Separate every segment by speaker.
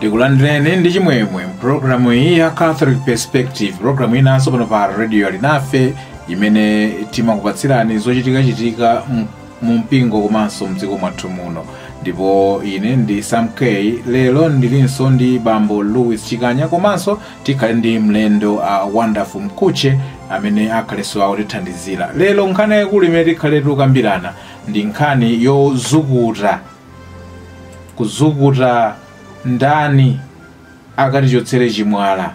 Speaker 1: tikulandireni ndi chimwemwe mpulogalamu iyi ya catholic perspective pulogalamu inanso pano pa radio alinafe imene timakupatsirani zochitikachitika mu mpingo komanso mdziko mwathu muno ndipo ine ndi sam k lero ndilinso ndi bambo louis chikanya komanso tikhale ndi mlendo uh, wonderful mkhutche amene akhalenso akutithandizira lero nkhani yayikulu imene tikhale tikukambirana ndi nkhani yozukuta kuzukuta ndani akatichotsere chimwala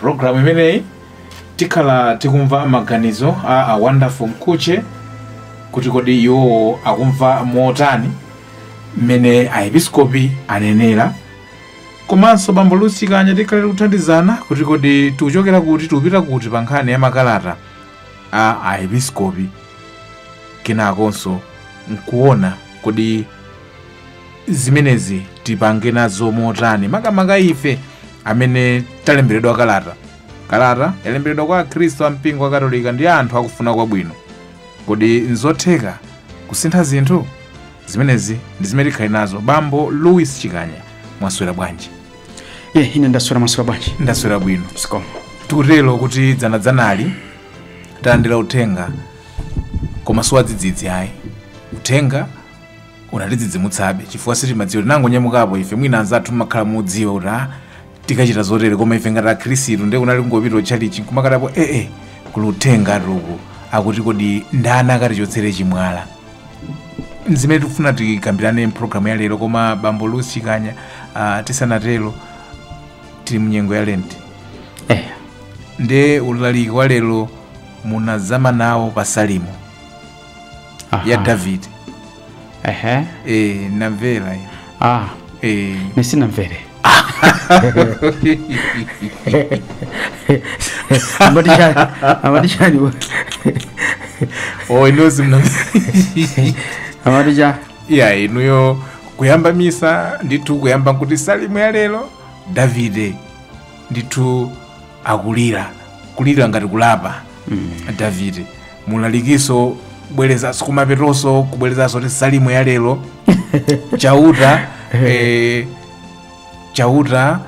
Speaker 1: programu imeneyi tikhala tikumva maganizo a a wonderful mkhutche kuti kodi iwowo akumva motani mmene aepiskopi anenera komanso bambo louis chikanya tikhala tikuthandizana kuti kodi tikuchokera kuti tikupita kuti pa nkhani ya makalata a aepiskopi kenakonso nkuona kodi zimenezi tipange nazo motani makamaka ife amene talemberedwa kalata kalata yalemberedwa kwa akhristu a mpingo wa katolika ndi anthu akufuna kwabwino kodi nzotheka kusintha zinthu zimenezi ndi zimene tikhale nazo bambo louis chikanya mwaswera bwanji ye ine ndaswera mwaswera bwanji ndaswera bwino zikomo tikutero kuti dzanadzanali talandira uthenga koma siwadzidzidzi ayi uthenga unatidzidzimutsabe chifukwa sitimadziwa tinangonyamuka ife mwina anzathu mumakhala mukudziwa kuti a tikachita zotere koma ife ngati akhristu nde kunali kungopita ku tchalitchi nkumakatapo ee kuli uthengatu uku akuti kodi ndani akatichotsere chimwala nzimene tikufuna tikambirane mpulogalamu ya lero koma bambo louis chikanya ah, tisanatero tili mnyengo ya lenti eh nde ulaliki wa lero munazama nawo pa salimo Aha. ya david ehe e, ndamvera iyo. ah e, ndisanamvere amatishani amatishani wa- oh, inozi mna amatishani ya inuyo kuyamba misa ndithu kuyamba nkuti salimo ya lero davide ndithu akulira kulira ngati kulapa mm. davide mu ulalikinso kubwerezanso kumapetonso kubwerezanso kuti salimo ya lero chauta eh, chauta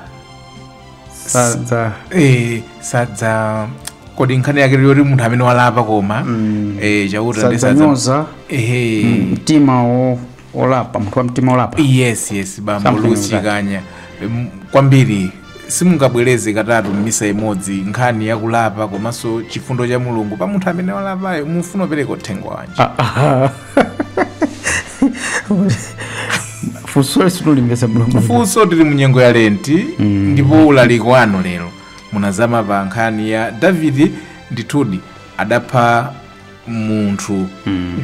Speaker 1: sadza eh, sadza kodi nkhani yake yoti munthu amene walapa koma eh, chauta ndi sadza- sadzanyoza ehe mtima wo olapa munthu wa mtima olapa yes yes bambo Something lusi like that. Em, kwambiri simungabwereze katatu m'misa imodzi nkhani yakulapa komanso chifundo cha mulungu pa munthu amene walapayo mufuna kupereka uthenga wanji funsoli sindikulimvetsa bwino funso tili munyengo ya lenti ndipo ulaliki wanu lero munazama pa nkhani ya davidi ndithudi adapha munthu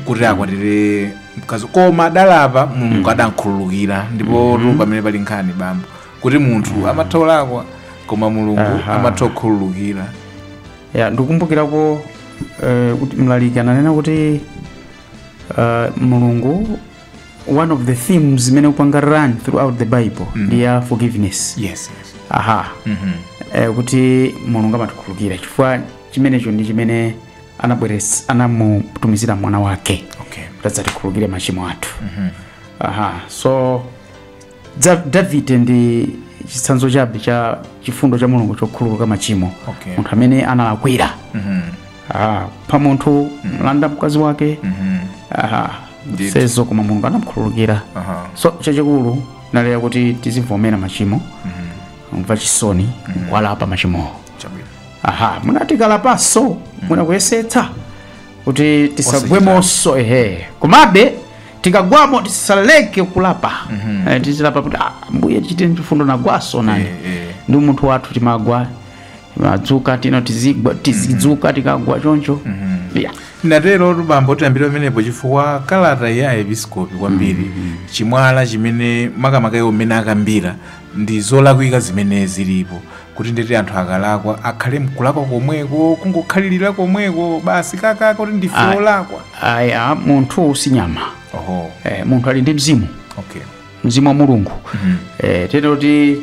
Speaker 1: kuti akwatire mkazi koma adalapa mulungu adankhululukira ndipo mm pamene pali nkhanitu bambo kuti munthu amatha kulakwa koma mulungu Aha. amatha kukhululukira ya ndikumbukirako eh, kuti mlaliki ananena kuti eh, mulungu one of the themes zimene zikupanga run throughout the bible ndi ya forgiveness yes yes aha Mhm. eh, kuti mulungu amatikhululukira chifukwa chimenecho ndi chimene anabweres anamutumizira mwana wake okay kuti adzatikhulukire machimo athu aha so Za- davide ndi chitsanzo chabe cha chifundo cha mulungu chokhululuka machimo Okay. munthu amene analakwira aha kupha munthu kumulanda mkazi wake aha Indeed. sezo koma mulungu anamkhululukira Aha. so chachikulu ndi lakuti tizivomera machimo kumva chisoni kuwalapa machimowo aha muna tikalapaso muna kuyesetsa kuti tisagwemonso ehe komabe tikagwamo tisaleke kulapa Eh, tizilapa kuti "Ah, ambuye tichite chifundo nagwaso nani ndi munthu wathu timagwa timadzuka tino tizigwa tizidzuka tikagwa choncho Yeah. inaterotu bambo tiyambire pamenepo chifukwa kalata ya episkopi kwambiri chimwala chimene makamaka iwo mmene akambira Ndi zolakwika zimene zilipo kuti ndeti anthu akalakwa akhale mkulakwa komweko kungokhalirira komweko basi kakaka kuti ndife Ayi. olakwa. ayi munthu si nyama Oho. eh, munthu ali ndi mzimu Okay. mzimu wa mulungu Mhm. eh, ndiye kuti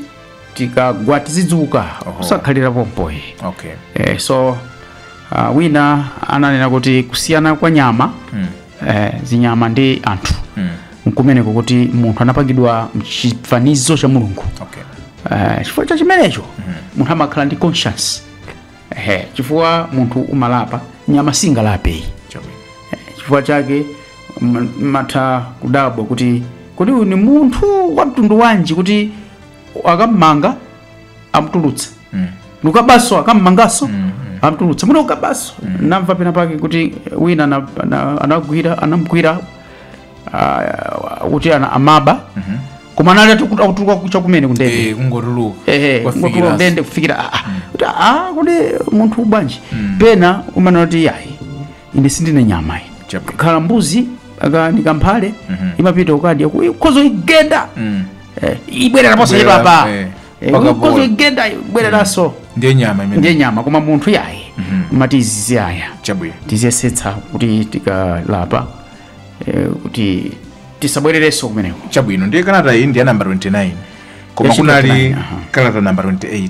Speaker 1: tikagwa tizidzuka Oho. kusakhalira pompo ayi Okay. eh, so uh, wina ananena kuti kusiyana kwa nyama Mm. eh, zinyama ndi anthu mm. nkumeneko kuti munthu anapangidwa m'chifanizo cha mulungu okay. Eh, chifukwa cha chimenecho munthu amakhala ndi conscience Ehe, chifukwa munthu amalapa nyama singalape Chabwino. Eh, chifukwa chake uma- umatha kudabwa kuti kodi uyu ndi munthu wa mtundu wanji kuti akammanga amtulutsa nkukabaso akammangaso amtulutsa muno kukabaso namva pena pake kuti wina ana- ana- anagwira anamgwira ah, kuti ana- amaba koma anali atiku- akutuluka chakumene kundende Eh, kungotuluka ehe Kwafikira ngotula asi. ndende kufikira ah, ah. kuti ah, kuti munthu bwanji pena umanena kuti yayi ine sindine nyama iyi Chabwino. khala mbuzi aka ni kamphale imapita ukadya ku- ukhoza uyigenda Eh, ibwerera ponse Ibwerera, chipapa eh, Eh, paka ukhoza bola. uyigenda ibwereranso ndiye nyama imene ndiye nyama koma munthu yayi amati azisiya chabwino tiziyesetsa kuti tikalapa eh, kuti tisabwererenso kumeneko chabwino ndiye kalata iyi ndi ya namba 29 koma Yes, kunali 29, aha. kalata namba 28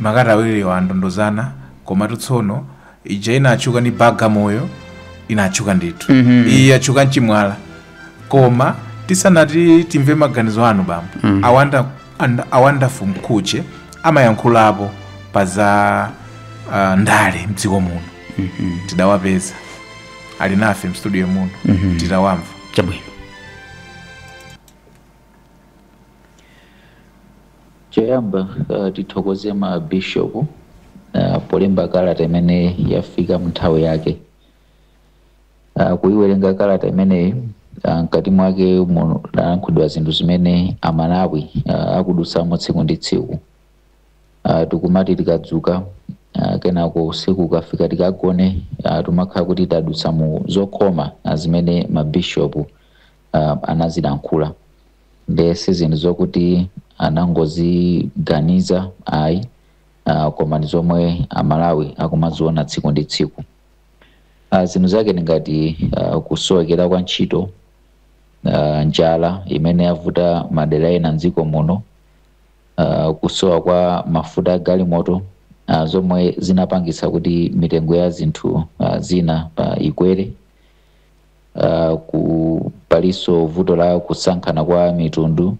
Speaker 1: Makalata awiriwa anatondozana komatu tsono ija inatchuka ndi Bagamoyo inatchuka ndithu iyi yatchuka nchimwala koma tisanati timve maganizo anu bambo a Wonder and- a Wonderful Mkhutche amayankhulapo pa za ah, ndale mdziko muno tidawapeza ali nafe mstudio muno titawamva chabwino Choyamba uh, tithokoze ma bishop uh, polemba kalata imene yafika mnthawi yake uh, kuiwerenga kalata imeneyi uh, mkati mwake munalankhulidwa zinthu zimene amalawi uh, akudutsamo tsiku ndi tsiku uh, tikumati tikadzuka uh, kenako usiku ukafika tikagone uh, timakhala kuti tadutsa mu zokhoma uh, zimene mabishopu uh, anazilankhula nde si zinthu zokuti anangoziganiza ayi uh, koma ndi zomwe amalawi akumaziona tsiku ndi tsiku uh, zinthu zake ndi ngati uh, kusowekera kwa ntchito uh, njala imene yavuta madera ena mdziko muno uh, kusowa kwa mafuta a galimoto uh, zomwe zinapangitsa kuti mitengo ya zinthu uh, zina uh, ikwere Uh, ku palinso vuto la kusankhana kwa mitundu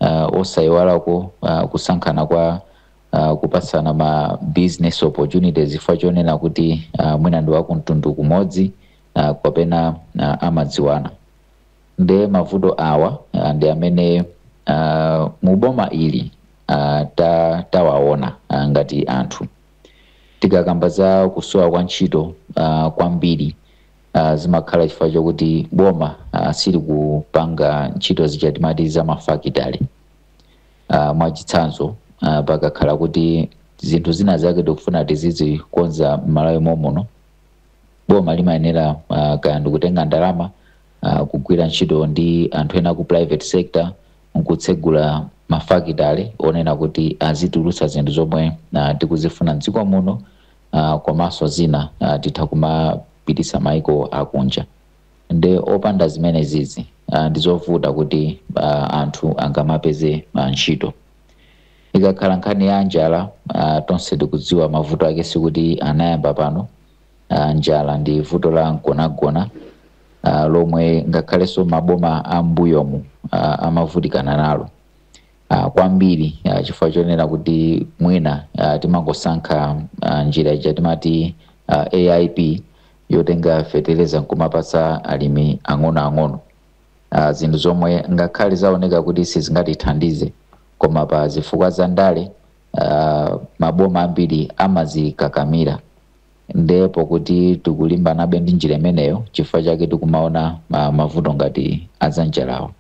Speaker 1: uh, osayiwalako uh, kusankhana kwa uh, kupatsana ma business opportunities chifukwa chonena kuti uh, mwina ndi wakumtundu kumodzi uh, kapena uh, amadziwana nde mavuto awa uh, ndi amene uh, muboma ili uh, ta, tawaona uh, ngati anthu tikakamba za kusowa kwa ntchito uh, kwambiri uh, zimakhala chifukwa chokuti boma uh, silikupanga ntchito zija timati za mafakitale uh, mwachitsanzo uh, pakakhala kuti zinthu zina zake tikufuna tizizikonza m'malawi momuno boma limayenera uh, kaya ndikutenga ndalama uh, kugwira ntchito ndi anthu ena ku private sector nkutsegula mafakitale onena kuti azitulutsa zinthu zomwe uh, tikuzifuna mdziko muno uh, komaso zina uh, titha kumapititsa maiko akunja nde opanda zimenezizi uh, ndizovuta kuti uh, anthu angamapeze uh, ntchito ikakhala nkhani ya njala uh, tonse tikudziwa mavuto ake sikuti anayamba pano uh, njala ndi vuto la mgonagona uh, lomwe ngakhalenso maboma a mbuyomu uh, amavutikana nalo ah, kwambiri ah, chifukwa chonena kuti mwina ah, timangosankha ah, njira ija timati ah, aip yotenga fetereza nkumapatsa alimi ang'onoang'ono ah, zinthu zomwe ngakhale zaoneka kuti sizingatithandize koma pa zifukwa za ndale ah, maboma ambiri amazikakamira ndipo poti tikulimbanabe ndi njira imeneyo chifukwa chake tikumaona ma- mavuto ngati azanjalawo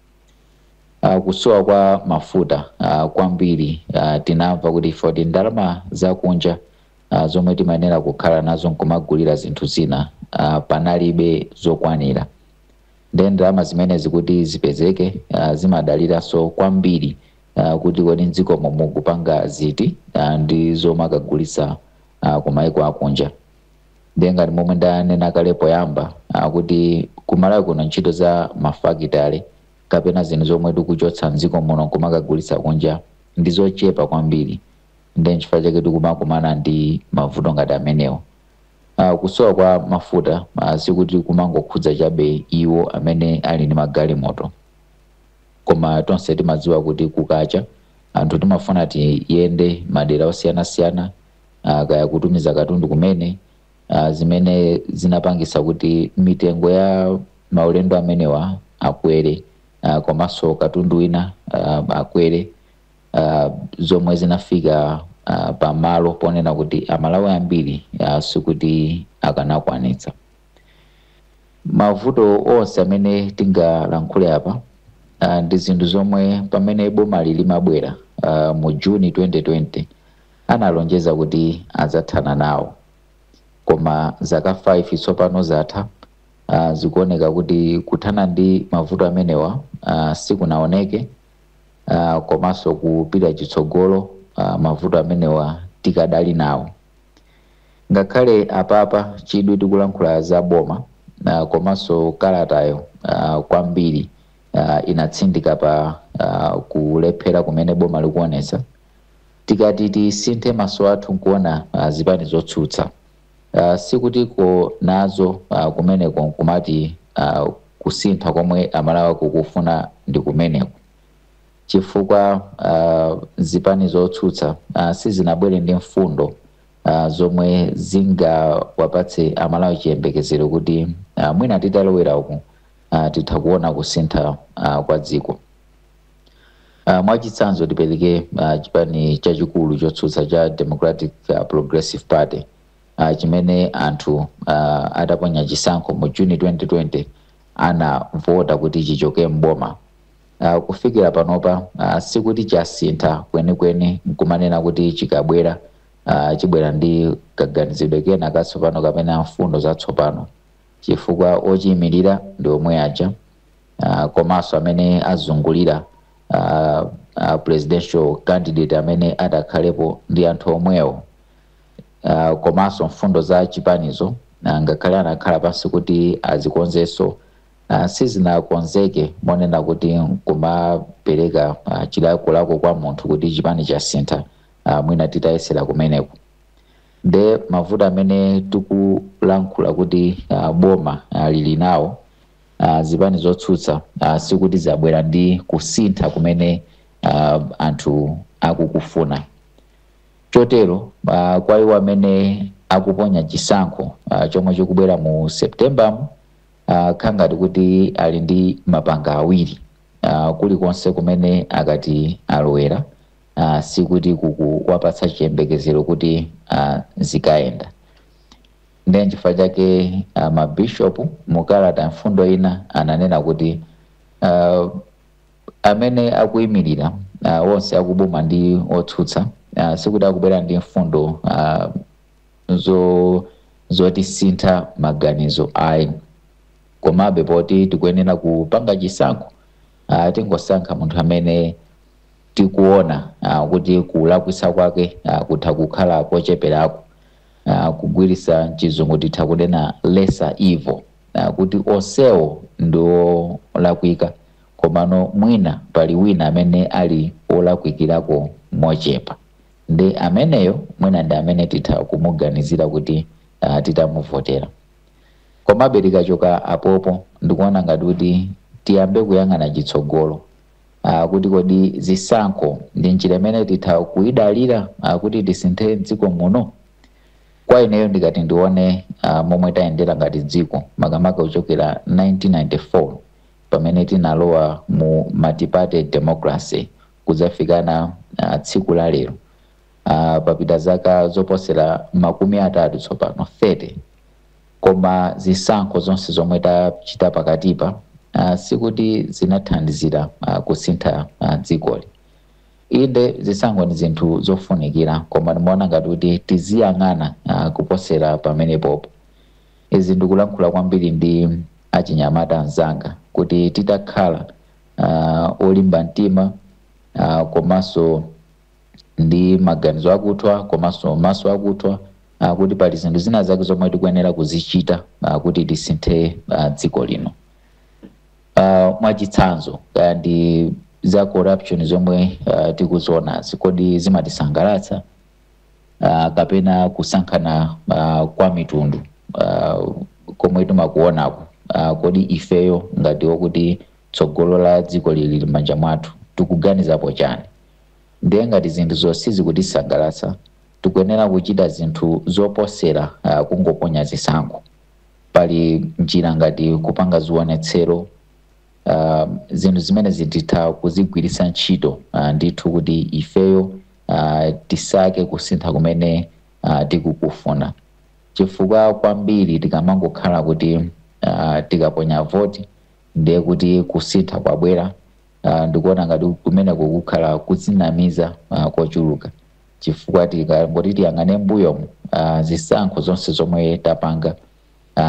Speaker 1: Uh, kusowa kwa mafuta uh, kwambiri uh, tinamva kuti chifukwa choti ndalama zakunja uh, zomwe timayenera kukhala nazo nkumagulira zinthu zina uh, panalibe zokwanira nde ndalama zimenezi kuti zipezeke uh, zimadaliranso kwambiri uh, kuti kodi mdziko momuno tikupanga ziti uh, ndi zomakagulitsa uh, kumaiko akunja ndiye ngati momwe ndanena kale poyamba ah, kuti kumalawi kuno ntchito za mafakitale kapena zinthu zomwe tikuchotsa mdziko muno kumakagulitsa kunja ndi zochepa kwambiri ndiye nchifukwa chake tikumakumana ndi mavuto ngati amenewo Ah, kusowa kwa mafuta ah, sikuti kumangokhudza chabe iwo amene ali ndi magalimoto koma tonse timadziwa kuti kukacha anthu timafuna tiyende madera osiyanasiyana ah, kaya kutumiza katundu kumene ah, zimene zinapangisa kuti mitengo ya maulendo amenewa akwere ah, komanso katundu wina ah, akwere ah, zomwe zinafika ah, pamalo ponena kuti amalawi ambiri ah, sikuti akanakwanitsa mavuto onse amene tingalankhule apa ah, ndi zinthu zomwe pamene bomali limabwera ah, mu juni 2020 analonjeza kuti adzathana nawo. Koma zaka 5 tsopano zatha, ah, zikuoneka kuti kuthana ndi mavuto amenewa ah, sikunaoneke ah, komanso kupita chitsogolo ah, mavuto amenewa tikadali nawo. Ngakhale apapa chidwi tikulankhula za boma ah, komanso kalatayo ah, kwambiri ah, inatsindika pa ah, kulephera kumene boma likuonetsa Tikati tisinthe maso athu nkuona zipani zotsutsa sikuti kuli nazo kumeneko nkumati kusintha komwe amalawi akukufuna ndi kumeneku chifukwa zipani zotsutsa sizinabwere ndi mfundo zomwe zingawapatse amalawi chiyembekezero kuti mwina titalowera umu titha kuona kusintha kwa dziko. Uh, mwachitsanzo tipereke uh, chipani chachikulu chotsutsa cha Democratic uh, Progressive Party uh, chimene anthu uh, ataponya chisankho mu June 2020 anavota kuti chichoke mboma uh, kufikira panopa uh, sikuti chasintha kwenikweni nkumanena kuti chikabwera uh, chibwera ndi kaganizidwe kena katsopano kapena mfundo zatsopano chifukwa ochiyimirira ndi omwe aja uh, komanso amene azungulira uh, uh, presidential candidate amene atakhalepo ndi anthu omwewo uh, komanso mfundo za chipanizo uh, ngakhale anakhala pansi kuti azikonzenso uh, sizinakonzeke monena kuti kumapereka uh, chilakolako kwa munthu kuti chipani chasintha uh, mwina titayesera kumeneko nde mavuto amene tikulankhula kuti uh, boma uh, lili nawo uh, zipani zotsutsa uh, sikuti zabwera ndi kusintha kumene uh, anthu akukufuna chotero uh, kwa iwo amene akuponya chisankho uh, chomwe chikubwera mu September mu uh, khangati kuti ali ndi mapanga awiri uh, kulikonse kumene akati alowere uh, sikuti kukuwapatsa chiyembekezero kuti uh, zikayenda Ndiye n'chifukwa chake mabishopu mu kalata mfundo ina ananena kuti a amene akuimirira a onse akuboma ndi otsutsa a sikuti akubwera ndi mfundo a zo zotisintha maganizo ayi komabe poti tikuyenera kupanga chisankho a tingosankha munthu amene tikuona a kuti kulakwitsa kwake a kutha kukhala kocheperako. uh, kugwiritsa chizungu titha kunena lesser evil uh, kuti onsewo ndi wolakwika komano mwina pali wina amene ali wolakwikirako mochepa ndi ameneyo mwina ndi amene titha kumuganizira kuti uh, titamuvotera komabe tikachoka apopo ndikuona ngati kuti tiyambe kuyang'ana chitsogolo uh, kuti kodi zisankho ndi njira imene titha kuidalira uh, kuti tisinthe dziko muno kwa ineyo ndikati ndione uh, momwe tayendera ngati dziko makamaka kuchokera 1994 pamene tinalowa mu multiparty democracy kudzafikana uh, tsiku la lero uh, papita zaka zoposera makumi atatu tsopano 30 Koma zisankho zonse zomwe tachita pakatipa sikuti zinathandizira kusintha dzikoli. Inde zisankho ndi zinthu zofunikira koma ndimaona ngati kuti tiziyang'ana kuposera pamenepopo. Izi ndikulankhula kwambiri ndi achinyamata anzanga kuti titakhala olimba mtima komanso. ndi maganizo akuthwa komanso maso akuthwa ah, kuti pali zinthu zina zake zomwe tikuyenera kuzichita ah, kuti tisinthe ah, dziko lino Ah, mwachitsanzo kaya ndi za corruption zomwe ah, tikuzionazi kodi zimatisangalatsa ah, kapena kusankhana ah, kwa mitundu ah, komwe timakuonako ah, kodi ifeyo ngati okuti Tsogolo la dzikoli lili m'manja mwathu. Tikuganizapo chani? Ndiye ngati zinthuzo sizikutisangalatsa, tikuyenera kuchita zinthu zoposera kungoponya zisankho. Pali njira ngati kupanga zionetsero. Zinthu zimenezi titha kuzigwiritsa ntchito ndithu kuti ifeyo tisake kusintha kumene tikukufuna chifukwa kwambiri tikamangokhala kuti tikaponya voti ndiye kuti kusintha kwabwera. Ndikuona ngati kumeneko kukhala kudzinamiza kochuluka chifukwa tikangoti tiyang'ane m'mbuyomu zisankho zonse zomwe tapanga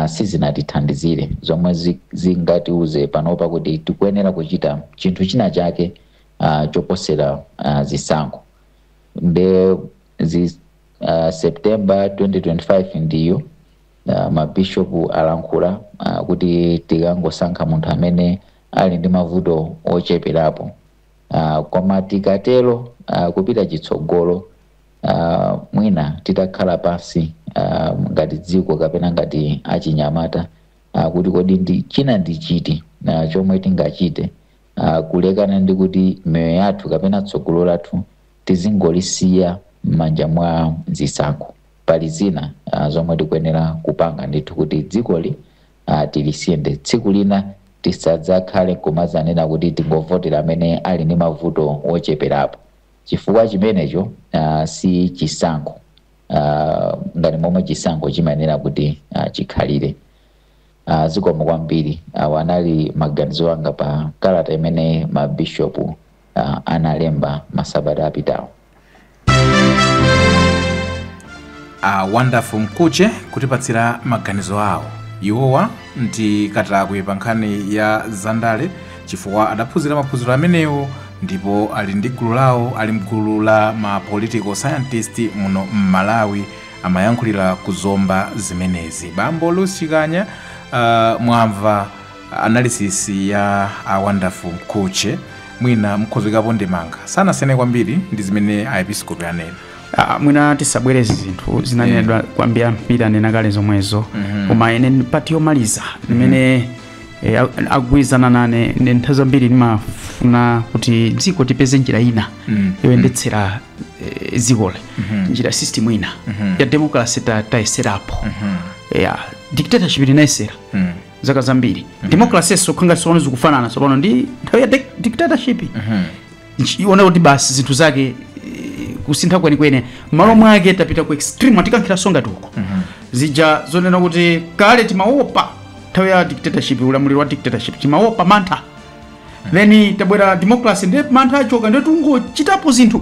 Speaker 1: sizinatithandizire zomwe zingatiuze panopa kuti tikuyenera kuchita chinthu china chake choposera zisankho nde September 2025 ndiyo. Ma Bishop alankhula kuti tikangosankhe munthu amene ali ndi mavuto ocheperapo koma tikatero kupita chitsogolo mwina titakhala pansi ngati dziko kapena ngati achinyamata kuti kodi ndi china ndi chiti chomwe tingachite kulekana ndi kuti miyoyo yathu kapena tsogolo lathu tizingolisiya m'manja mwa zisankho. pali zina zomwe tikuyenera kupanga ndithu kuti dzikoli tilisinthe. Tsiku lina tisadzakhale kumadzanena kuti tingovotera amene ali ndi mavuto ocheperapo chifukwa chimenecho si chisankho ngati momwe chisankho chimayenera kuti chikhalire. Zikomo kwambiri. Awo anali maganizo anga pa kalata imene ma Bishop. uh, analemba masabata apitawo a wonderful mkhutche kutipatsira maganizo awo iwowa ndi katakwe pa nkhani ya zandale chifukwa adaphunzira maphunziro amenewo ndipo ali ndi gulu lawo ali mgulu la ma political scientist muno m'malawi amayankhulira ku zomba zimenezi bambo luwi chikanya uh, mwamva Analysis ya a Wonderful Mkhutche mwina mukhoza kuikapo ndemanga. Sanasiyane kwambiri ndi zimene Aepiskopi anena. Ah, mwina tisabwereze zinthu zinanenedwa kwambiri ambiri anena kale zomwezo koma ine ndi pati yomaliza imene eh, a- agwirizana nane ndi nthawi zambiri ndimafuna kuti dziko tipeze njira ina yoyendetsera eh, dzikoli njira system ina ya democracy ta- tayeserapo ya dictatorship tinayesera zaka zambiri democracy sokhanga sona zikufanana tsopano ndi nthawi ya dic- dictatorship Nchi- iona kuti basi zinthu zake eh, kusintha kwenikweni malo mwake tapita ku extreme atikankhira nsonga tiko zija zonena kuti kale timaopa nthawi ya dictatorship ulamuliro wa dictatorship timaopa mantha then tabwera democracy ndi mantha achoka ndi tungochitapo zinthu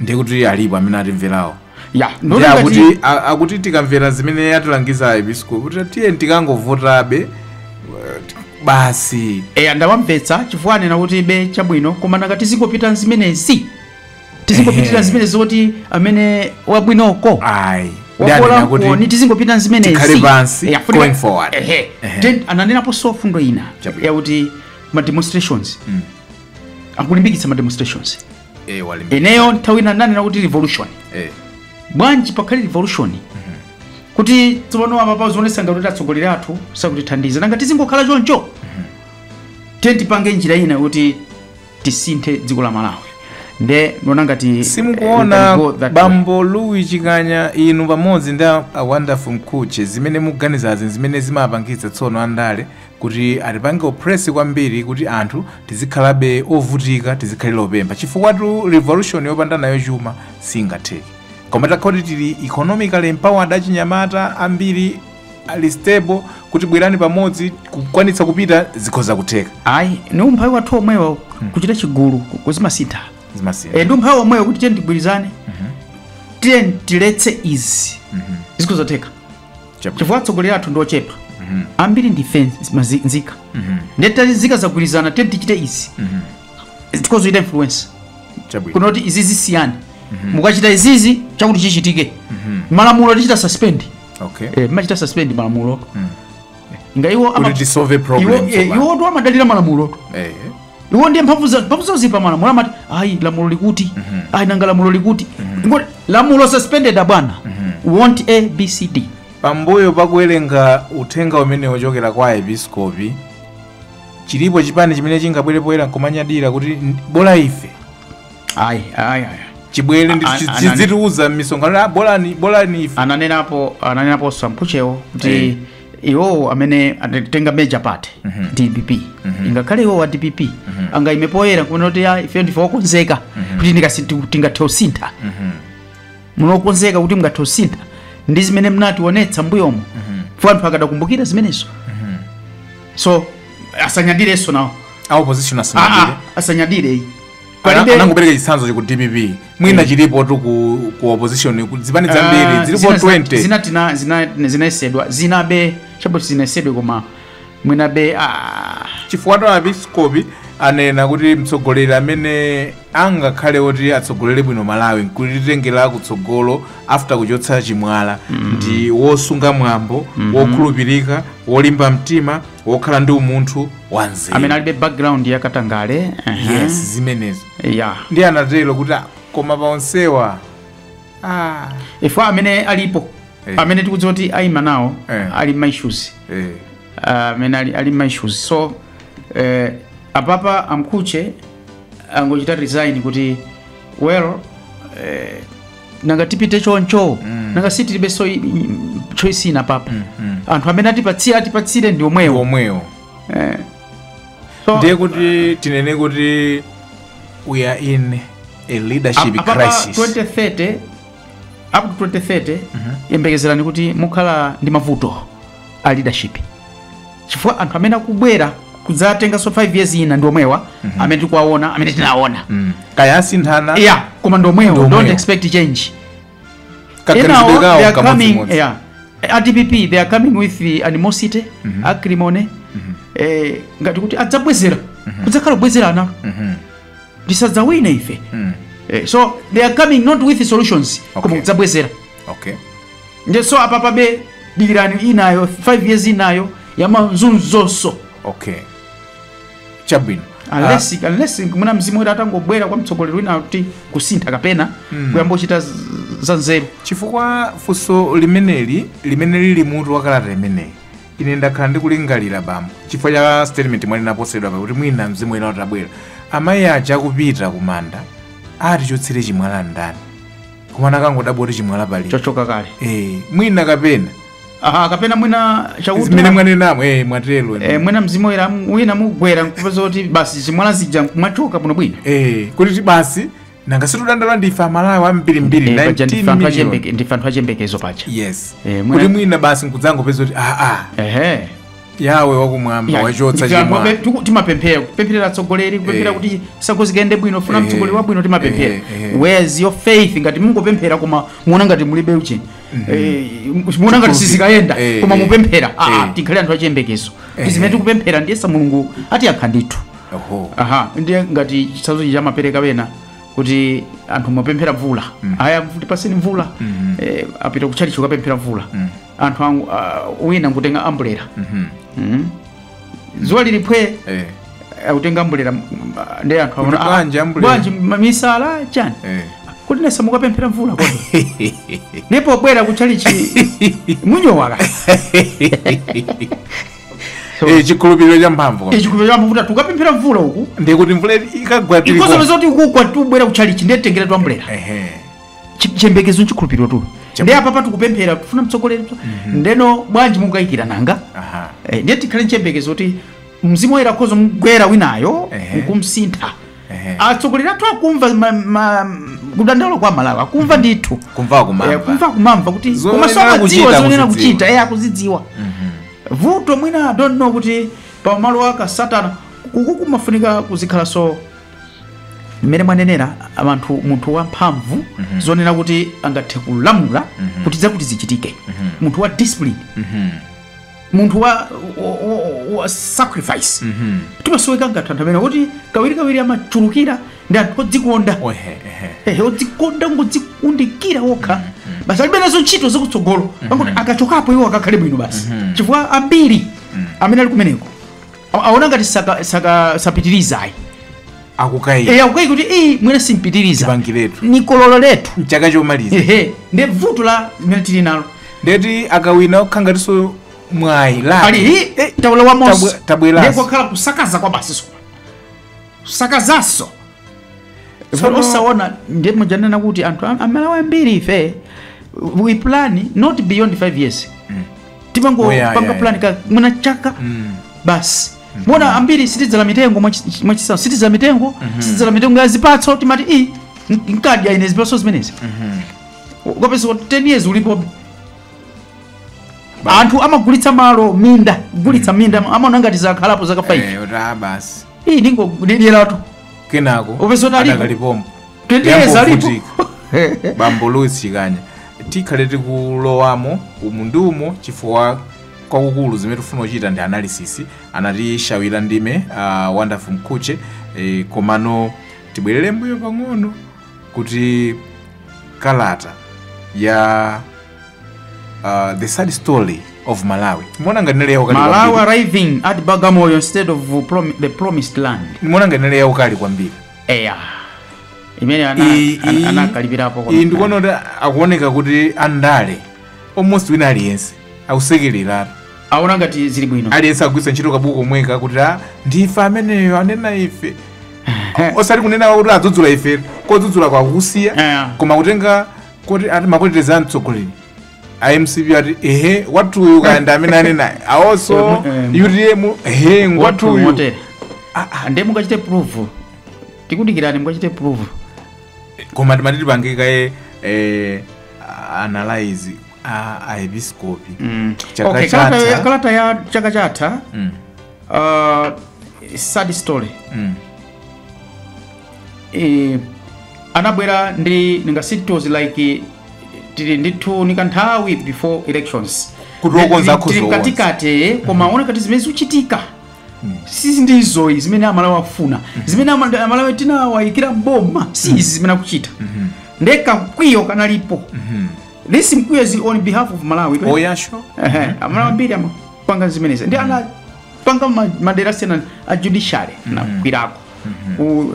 Speaker 1: ndiye kuti alipo amene atimverawo ya ndiye ndona ngati akuti a- akuti tikamvera zimene atilangiza aepiskopi kuti tiye tikangovotabe eh, basi eya ndawamvetsa chifukwa anena kuti be chabwino koma nanga tizingopita nzimenezi tizingopitira Ehe. zimenezi zoti amene wabwinoko ayi Ndi anena wakola kuti koni tizingopita nzimenezi tikhale pansi, Eya, funika- going forward. Ehe. Ehe. Then ananenapo so fundo ina Chabwino. yakuti ma demonstrations akulimbikitsa ma demonstrations eh, akulimbikitsa. ineyo nthawi ina nanena kuti revolution eh, bwanji pakhale revolution kuti tsopano apapa zionetsa ngati kuti atsogoleri athu sakutithandiza nanga tizingokhala choncho tiye tipange njira ina yoti tisinthe dziko la malawi nde ndiona ngati eh, we simukuona can go that way. bambo luwi chikanya inu pamodzi ndi a a wonderful mkhutche zimene muganizazi zimene zimapangitsa tsono andale kuti atipange oppress kwambiri kuti anthu tizikhalabe ovutika tizikhala opempha chifukwatu revolution yopanda nayo chuma siingatheke koma takhala kuti tili economically empowered achinyamata ambiri ali stable kuti bwerani pamodzi kukwanitsa kupita zikhoza kutheka ayi ni umphawi wathu omwewo kuchita chigulu ku- kuti zimasintha zimasiyana Eh, ndi umphawi omwewo kuti tiyeni tigwirizane tiyeni tiletse izi zikhoza kutheka Chabwino. chifukwa atsogoleri athu ndi ochepa ambiri ndife nz- mazi- nzika ndiye tati nzika zagwirizana tiyeni tichite izi tikhoza kuchita influence Chabwino. kuno kuti izi siyani mukachita izizi chakuti chichitike malamulo tichita suspend Okay. Eh, muchita suspend malamulo nga iwo Kuti ama- tisolve problem iwo- eh, tsopano. iwotu amadalira malamulo Eh. iwo ndiye mphamvu zanu mphamvu zanu zili pamalamulo amati ayi lamulo likuti ayi nanga lamulo likuti Ngoti lamulo suspended abwana want a b c d pambuyo pakuwerenga uthenga umene wochokera kwa aepiskopi chilipo chipani chimene chingabwere poyera nkumanyadira kuti "N- bola ife ayi ayi ayi chibwere ndi- A- chi- a- chi- anani- azitiuza m'misonkhano "Ah, bolani bolani ife ananenapo ananenapo sampuchewo kuti Eh. iwowo amene atenga major party dpp ingakhale iwowo a dpp angaime poyera kunena kuti "Ah, ife ndife okonzeka kuti ndikasi- ti- tingathe usintha muli okonzeka kuti mungathe usintha ndi zimene mnationetsa mbuyomo for anthu akadakumbukira zimenezo, so asanyadirenso nawo a opposition Ah, ah, asanyadire asanyadire ayi Palibe- Ana- anangopereka chitsanzo cha ku dpp mwina chilipotu ku, ku opposition ku zipani zambiri Ah, zilipo zina- 20 zina tina- zina- zinayesedwa zinabe chabe oti zinayesedwe koma mwinabe ah, chifukwatu aepiskopi anena kuti mtsogoleri amene angakhale oti atsogolere bwino malawi nkulitengera kutsogolo after kuchotsa chimwala ndi wosunga mwambo wokhulupirika wolimba mtima wokhala ndi umunthu wanzeru amene alibe background ya katangale aha. yes zimenezo ya ndiye anatero kuti "Ah, koma paonsewa ah, ifeyo amene alipo Eh. amene tikudziwa kuti ayima nawo Eh. ali ndi maishuzi eh, amene ali, ali ndi maishuzi so eh, apapa a Mkuche angochita resign kuti well eh, nanga tipite choncho nanga sitilibe so i- i- choice ina apapa anthu amene atipatsire atipatsire ndi omwewo omwewo Eh. So, ndiye kuti tinene kuti we are in a leadership apa- apa crisis 2030 up to 2030 yembekezerani kuti mukhala ndi mavuto a leadership chifukwa anthu amene akubwera kudzatenganso 5 years ina ndi omwewa amene tikuwaona amene tinaona Mm. kaya asinthana yeah koma ndi omwewo Ndi don't omwewo. expect change kaganizidwe Enawo, they kawo are coming, kamodzimodzi yeah. A DPP, they are coming with the animosity acrimony eh, ngati kuti adzabwezera kudzakhala kubwezerana Mhm. tikadzawine ife Mm. eh, so they are coming not with solutions Okay. koma kudzabwezera okay nde so apa pabe dikirani inayo 5 years inayo yamazunzonso okay chabwino unless unless mwina mzimu woyera atangobwera kwa mtsogoleri wina kuti kusintha kapena kuyamba kuchita z- za nzeru chifukwa funso limeneli limene lili mutu wa kalata imeneyi ine ndakhala ndikulingalira bambo chifukwa cha statement yomwe inapositidwa pa kuti mwina mzimu wina utabwera amayi aja akupita kumanda atichotsere chimwala ndani koma anakangodabwa kuti chimwala paja chachoka kale eh mwina kapena aha kapena mwina chauta zimene mwanenamo eh mwatero eh, mwina mzimu woyera am- wina mugwera nkupeza kuti basi zimwala zija zachoka bwino bwino eh kuti ti basi nanga situdandaula ndife amalawi ambiri mbiri Eh, paja 19 ndife anthu million achembeke- ndife anthu achembekezo paja yes Eh, kuti mwina- mwina basi nkudzangopeza kuti ah ah ehe yawe wakumwamba Yeah. wachotsa Ndife anthu amene chimwala tiku- timapemphera kupempherera atsogoleri kupemphera Eh. kuti chisankho zikayende bwino tikufuna Eh. mtsogoleri wabwino timapemphera Eh, eh. whereas your faith ngati mungopemphera koma muona ngati mulibe chiyembekezo Eh, muona ngati sizikayenda Eh, koma eh. mupemphera Ah, ah, Eh. tikhale anthu achiyembekezo Eh. zimene tikupemphera ndiyesa mulungu atiyankha ndithu Oho. aha ndiye ngati chitsanzo chija amapereka ena kuti anthu amapemphera mvula aya atipatse mvula eh, apita kutchalichi kukapemphera mvula anthu angu, uh, wina nkutenga ambulera Mhm. mm. dzuwa lili phwee Eh. akutenga ambulera mm, ah, ndi anthu Kuti aona, ah, bwanji ambulera? bwanji ma- misala chani Eh. kuti ndiyesa mukapemphera mvula kodi ndipo pobwera kuchalichi munyowaka Eh, chikhulupiriro cha mphamvu kwa- ichikupe chambo kuti tukapemphera mvula uku ndikuti mvula ikagwa tili ikosobe kwa- zoti ikugwa tubwera kuchalichi ndetengera twambulera Ehe. Chi- chiyembekezo nchikhulupiriro tu ndiye apapa tikupemphera kufuna mtsogoleri ndeno bwanji mukukayikira nanga Aha. Eh, ndiye tikhale nchiyembekezo kuti mzimu woyera akhoza kumgwera winayo Ehe. nkumsintha Ehe. atsogoleri athu akumva ma- ma- kudandaula kwa amalawi akumva ndithu Kumva kumamva. Eh, kumva kumamva kuti Zomwe koma so amadziwa akuchita zonena akuzidziwa. kuchita eh, akuzidziwa vuto mwina I don't know kuti pamalo ake satana kuku kumafunika kuzikhala so mmene mwanenera anthu munthu wamphamvu zonena kuti angathe kulamula kuti zakuti zichitike munthu wa discipline munthu wa, wa, wa, wa sacrifice timasoweka anthu anthu amene kuti kawirikawiri amachulukira ndi anthu odzikonda Ohe, ehe. ehe odzikonda ngodzikundikira okha basi alibe nazo ntchito zakutsogolo angoti akachokapo iwo akakhale bwino basi chifukwa ambiri amene ali kumeneko A- aona ngati saka- saka- sapitiriza ayi akukaika eya kukaika kuti iii mwina sindipitiriza tipangiretu nkukololeratu nchaka chomaliza ehe ndi vuto limene tili nalo ndiyetu akawina kukhala ngatinso mwayi ali nawo hi tawula wa mose Tabwe- tabweranso. Ndiye kwakhala kusakaza kwake basi koma kusakazanso tsono Tsono- osaona ndi uja ananena kuti anthu am- amalawi ambiri ife we plan not beyond 5 years timango Oh, yeah, panga yeah, plan ya mwina chaka Mm. basi mwaona ambiri sitidzala mitengo mwachi- mwachitsanzo sitidzala mitengo sitidzala mitengo ya zipatso timati i nkadya ine zipatso zimenezi ukapeza kuti 10 years ulipobe, anthu amagulitsa malo minda kugulitsa minda amaona ngati sakhalapo zaka 5 Eh, kuti ah, basi iyi ndingodyeratu kenako Upeza kuti alipo. adakali pompano koteroko alipo Akuvutika. bambo Louis Chikhanya tikhale tikulowamo umu ndi umo chifukwa kwakukulu zimene tifuna kuchita ndi analysis anatichawira ndime uh, wonderful mkhuche eh, komano tibwerere mbuyo pang'ono kuti kalata ya uh, the sad story of malawi mwaona ngati nali yaukali kwambiri. malawi arriving at bagamoyo instead of prom the promised land mwaona ngati nali yaukali kwambiri eya imeneyo ana- Iyi- ana- iyi- anakalipirapo kwa- iyi -mbiri. ndikuona kuti akuoneka kuti andale almost wina aliyense akusekereratu aona ngati zili bwino aliyense akugwiritsa ntchito kabuku komweka kuti a ndife ameneyo anena ife osati kunena kuti adzudzula ife kudzudzulako akusiya Eya. koma kutenga koti ati makhalidwe a mtsogoleri a mcp ati ehe wathuyu kaya ndi amene anena awonso utm ehe ngwathuyu motere ndiye mukachite prove tikudikirani mukachite prove koma timati tipange kaye eh, analyze a a episcopi Mm. Chaka Okay, kalata ya- chatha. kalata ya chaka chatha Mm, uh, sad story mm. eh, anabwera ndi ningasi it was like tili ndithu ndi kanthawi before elections Kuti wokonza akhoza Tili mkatikati koma aona kuti zimene zikuchitika si ndizo ayi zimene amalawi akufuna zimene ama- amalawi tinawaikira mboma si izi zimene akuchita nde kamkwiyo kanalipo this mkwiyo is on behalf of malawi right? Oh ya sure Ehe, amalawi ambiri amapanga zimenezi nde anapanga ma- madera sena a judiciary anakwiyako ku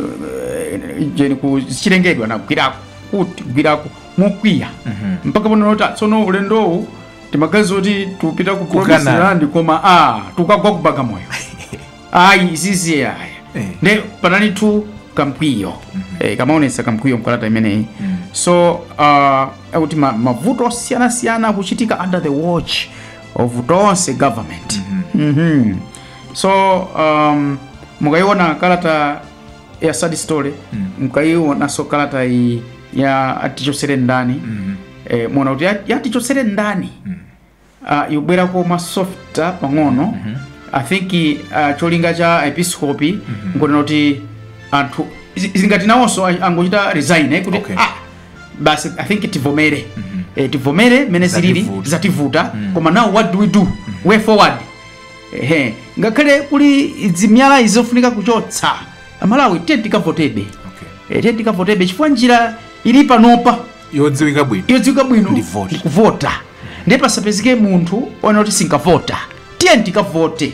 Speaker 1: eh, jeni ku chilengedwe anagwirako kutigwirako mokwiya mpaka pano Lord tsono ulendowu timagazi oti tupita ku Kanani. promised land koma atukagwa ku Bagamoyo ayi izizi aya Eh. nde panali tu kamkwiyo eh, kamaonesa kamkwiyo mkalata imeneyi so uh, akuti ma, mavuto osiyanasiyana akuchitika under the watch of tonse government Mhm. so um, mukaiona kalata ya sad story Mm. mkaionanso kalata iyi ya atichotsere ndani Mm. eh, muwona kuti ya- ya atichotsere ndani Mm. uh, yobwera koma softa pang'ono i think uh, cholinga cha aepiskopi nchonena kuti anthu zi- zingati nawonso a- angochita resign eh, kuti Okay. ah, basi i think tivomere eh, tivomere mmene zilili Zativuta. zativuta koma now what do we do way forward Ehe, ngakhale kuli zimiyala izi zofunika kuchotsa, Amalawi tiyeni tikavotebe, Okay. eh, tiyeni tikavotebe chifukwa njira ili panopa yodziwika bwino yodziwika bwino Ndi vote. kuvota ndiye pasapezeke munthu onena kuti sinkavota tiyeni tikavote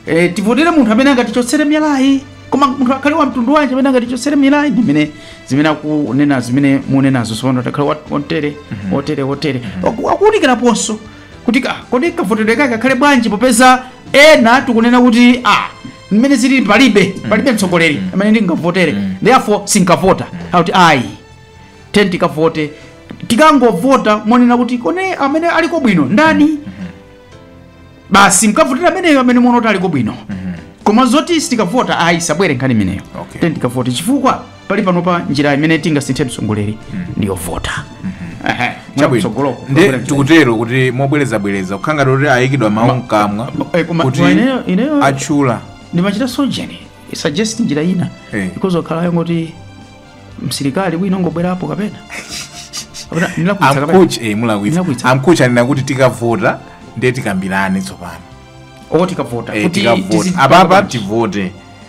Speaker 1: e, tivotere munthu amene angatichotsere miyalayi koma munthu akhale wa mtundu wanji amene angatichotsere miyalayi ndimene zimene akunena zimene munenazo sopano takhale wotere wotere wotere akuunikiraponso kuti ka- kodi kavotedwe kake kakhale bwanji popeza ena tikunena kuti a mmene zili palibe palibe mtsogoleri amene ndingavotere therefore sinkavota akuti ayi tiyeni tikavote tikangovota monena kuti koma amene aliko bwino ndani basi mkavotera ameneyo amene muona kuti aliko bwino koma zoti sitikavota ayi isabwere nkhani imeneyo Okay. tiyeni tikavote chifukwa pakali panopa njira imene tingasinthe mtsogoleri ndiyovota Ehe, chakutsogoloko nde tikutero kuti mobwerezabwereza kukhala ngati kuti ayikidwa mawu mkamwa ma- eh, koma- kuti koma ineyo- ineyo- atchula ndimachita sojeni suggest njira ina Eh. because yakhala yongoti msilikali wina angobwerapo kapena Kapena ndinalakwitsa kapena? aM'church eh, mulakwitsa Ndinalakwitsa. aM'church anena kuti tikavota nde tikambirane tsopano Oh, tikavota Eh, Kuti tikavota tizi- apapa tivote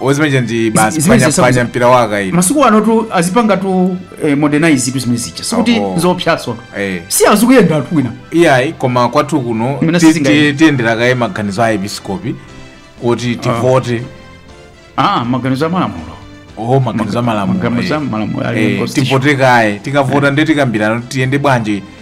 Speaker 1: ozimeneja ndi Izi- basi zimene panya- zisabweza- panya mpira wakale masiku anotu azipangatu eh, modernizetu zimene zija sikuti Oho. nzoopsa Eh. si azikuyenda anthu wina iyayi koma kwathu kuno Imene ti- sizinga- ti- tiyendera kaye maganizo a episkopi kuti tivote ah maganizo amalamulo oho maganizo amalamulo maganizo eh. amalamulo ali Eh, constitution. tivote kaye tikavota nde tikambirana kuti tiyende bwanji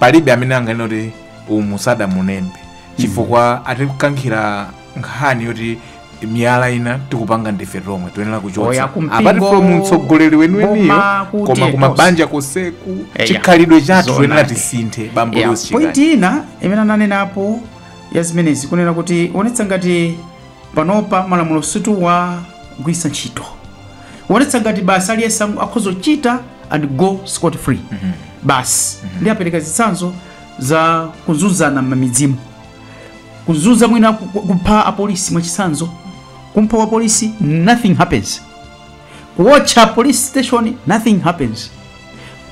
Speaker 1: palibe amene anganene kuti umu sadamulembe chifukwa atikankhira nkhani yoti miyala ina tikupanga ndife tomwe toyenera Oya, kuchotsa kumpingo, apart from mtsogoleri weniweniyo boma, kuti koma ku mabanja konseku Eya, chikhalidwe chathu zoona. toyenera tisinthe bambo Yeah, Louis Chikati. point ina imene ananenapo ya zimenezi kunena kutionetsa ngati Panopa malamulo sitikuwagwiritsa ntchito. Zikuonetsa ngati basi aliyense angu- akhoza kuchita and go scot free. Basi ndiye apereka zitsanzo za kuzunzana m'mamidzimu. Kuzunza mwina ku- ku- kupha apolisi mwachitsanzo. Kumpha wa polisi nothing happens. Kuwotcha police station nothing happens.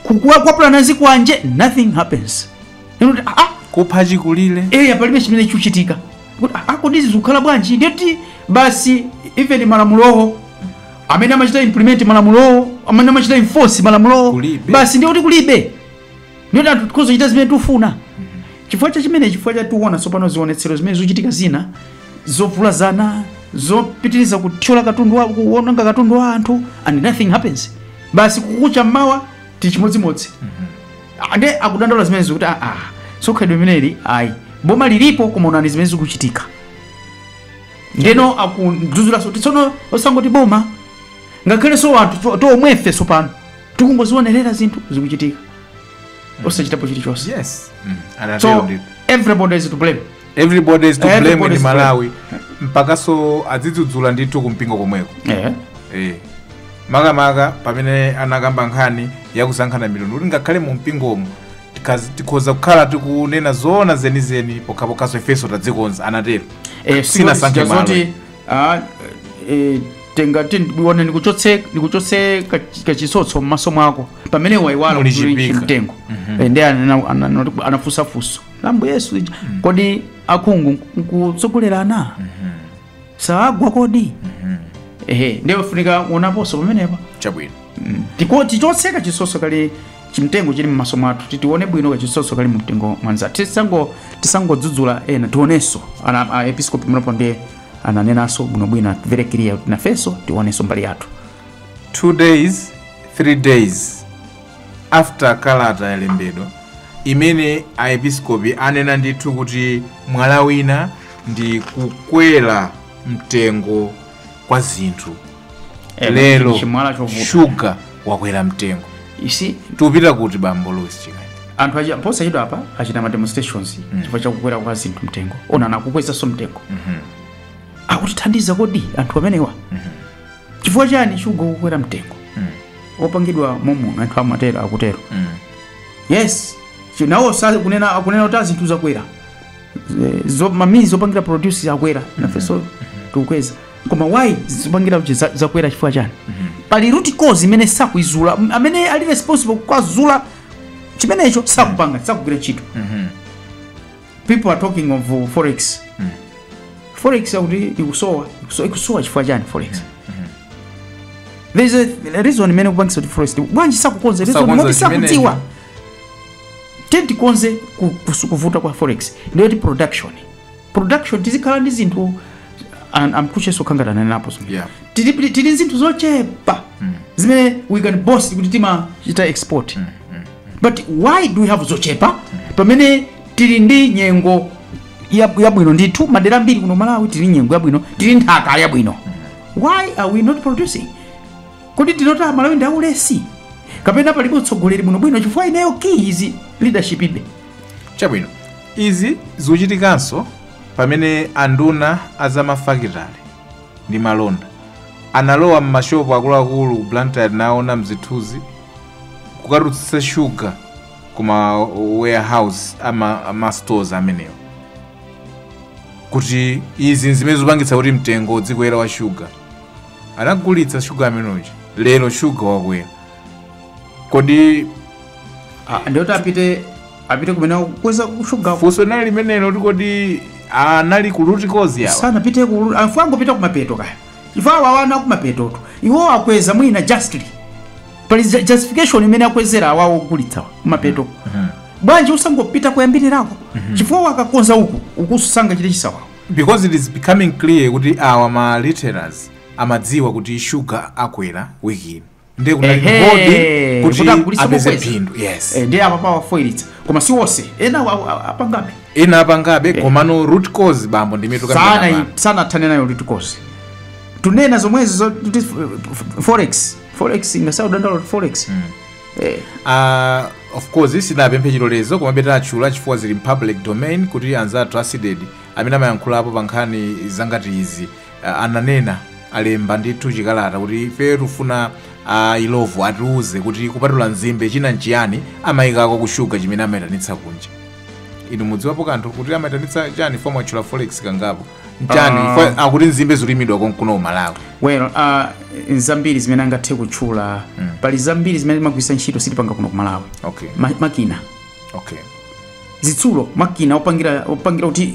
Speaker 1: Kukhapa ndi zikwanje nothing happens. Ndiye kuti, ah, ah, kupha chikulire eya palibe chimene chikuchitika kuti "Ah, ah, kodi izi zikukhala bwanji ndiye kuti basi even malamulowo amene amachita implement malamulowo amene amachita enforce malamulowo Kulibe. basi ndiye kuti kulibe ndiye kuti anthu tikhoza kuchita zimene tikufuna chifukwa cha chimene chifukwa chake tiona tsopano zionetsero zimene zikuchitika zina zovulazana zopitiriza kuthyola katundu wa kuononga katundu wa anthu and nothing happens basi kukacha mmawa tichimodzimodzi Ndiye akudandaula zimenezi kuti aa ah, ah, si khalidwe limeneli ayi boma lilipo koma onani zimene zikuchitika ndeno akudzudzulaso kuti tsono osangoti boma ngakhalenso anthu tomwefe tsopano tikungozionerera zinthu zikuchitika osachitapo chilichonse yes. mm. so everybody is to blame everybody is to blame Everybody in is to blame. malawi mpakaso adzidzudzula ndithu kumpingo komweko Eh. Eh. makamaka pamene anakamba nkhani yakusankhana mitundu kuti ngakhale mu mpingomo tikaz- tikhoza kukhala tikunena zoona zenizeni pokhapokhaso ifenso tadzikonza anatero Eh, Sina sikuti sankhe malo. zoti, ah, eh, tingati ndione ndikuchotse ndikuchotse kach- kachitsotso m'maso mwako pamene waiwala Muli kuti chipika. chimtengo Eh, ndiye anena- ananoti- anafunsa funso ambuye yesu ija kodi akhungu nkutsogolerana saagwa kodi ehe ndiye ufunika uonaponso pamenepa chabwino tikati tichotse kachitsotso kali chimtengo chili mmaso mwathu titione bwino kachitsotso kali mumtengo mwa anzathu tisango tisangodzudzula ena tionenso anena aepiskopi mnepo ndiye ananenanso bwinobwino ati very clear kuti nafenso tionenso mbali yathu two days three days after kalata yalembedwa imene aepiskopi anena ndithu kuti mwala wina ndi kukwera mtengo kwa zinthu Eh, lero chimwala chovuta. shuga wakwera mtengo You see, tukupita kuti bambo Louis Chikaya anthu achi- posachedwa apa achita mademonstrations chifukwa chakukwera kwa zinthu mtengo ona akukwezanso mtengo akutithandiza kodi anthu amenewa chifukwa chani shuga ukukwera mtengo Mm. wopangidwa momuno anthu amatero akutero Mm. yes Chi- nawo sali kunena akunena kuti azinthu zakwera Z- zo ma means zopangira produce akwera nafenso tikukweza koma why zopangira kuti za- zakwera chifukwa chani pali root cause imene sakuizula M- amene ali responsible kukazula chimenecho sakupanga sakugwira ntchito Mhm. people are talking of uh, forex Mm. forex akuti ikusowa ikuso- ikusowa chifukwa chani forex there is a a reason imene ikupangisa kuti forex bwanji sakukonze reason Sakukonza moti chimene- sakuti atenti tikonze ku- kusu- kuvuta kwa forex ndiyoti production production tizikhala ndi zinthu an- amkucheso kangatana napo zimene yeah tili tili ndi zinthu zochepa zimene we can boast kuti timachita export but why do we have zochepa pamene tili ndi nyengo yab- yabwino ndithu madera ambiri kuno malawi tili ndi nyengo yabwino tili ndi nthaka yabwino why are we not producing kodi tinene kuti amalawi ndi aulesi kapena palibe utsogoleri bwinobwino chifukwa ineyo key is leadership ibe chabwino izi zikuchitikanso pamene anduna azamafakitale ndi malonda analowa m'mashopu akuluakulu ku blantyre naona mzithuzi kukatutsitsa shuga kuma warehouse ama, ama stores amenewo kuti izi nzimene zikupangitsa kuti mtengo udzikwera wa shuga anagulitsa shuga amene uja lero shuga wakwera kodi Ah, ndiye kuti apite apite kumene akukweza kushuga funso linali limenelo nkuti anali ku root cause yawo sanapite ku half angopita kumapeto kaya ife awawa ndi akumapetotu iwo akweza mwina justly pali ju- justification imene akwezera awawo ogulitsawa kumapeto bwanji usangopita kuyambirirako chifukwa akakonza uku ukusanga chili chisawawo because it is becoming clear kuti awa ma retailers amadziwa kuti sugar akwera wiki ino ndiye kunali Ehe, kugodi kuti kuti agulitse apeze kukweza. phindu yes Eh, ndiye apa pawafoilitsa koma si onse ena awa- awa- apangabe ena apangabe komano root cause bambo ndi imene sana kapena sana athane nayo litikosi tunena zomwezi zo kuti f- f- forex forex ikusowa dandaulo kuti forex Eh, Ah, of course sinapemphe chilolezo koma bwenzi nditatchula chifukwa zili mu public domain kuti anzathu a CDEDI amene amayankhulapo pa nkhani zangati izi Ah, ananena alemba ndithu chikalata kuti ifeyo tifuna a illovo atiuze kuti kupatula nzimbe china nchiyani amayikako ku shuga chimene amayitanitsa kunja inu mukudziwapo kanthu kuti amayitanitsa chani poti mwatchula forex kangapo nchani Ah. Fo- akuti nzimbe zikulimidwa konkuno kumalawi well uh, zambiri zimene angathe kutchula mm. pali zambiri zimene timagwiritsa ntchito sitipanga kuno kumalawi okay Ma, makina okay zitsulo makina opangira opangira kuti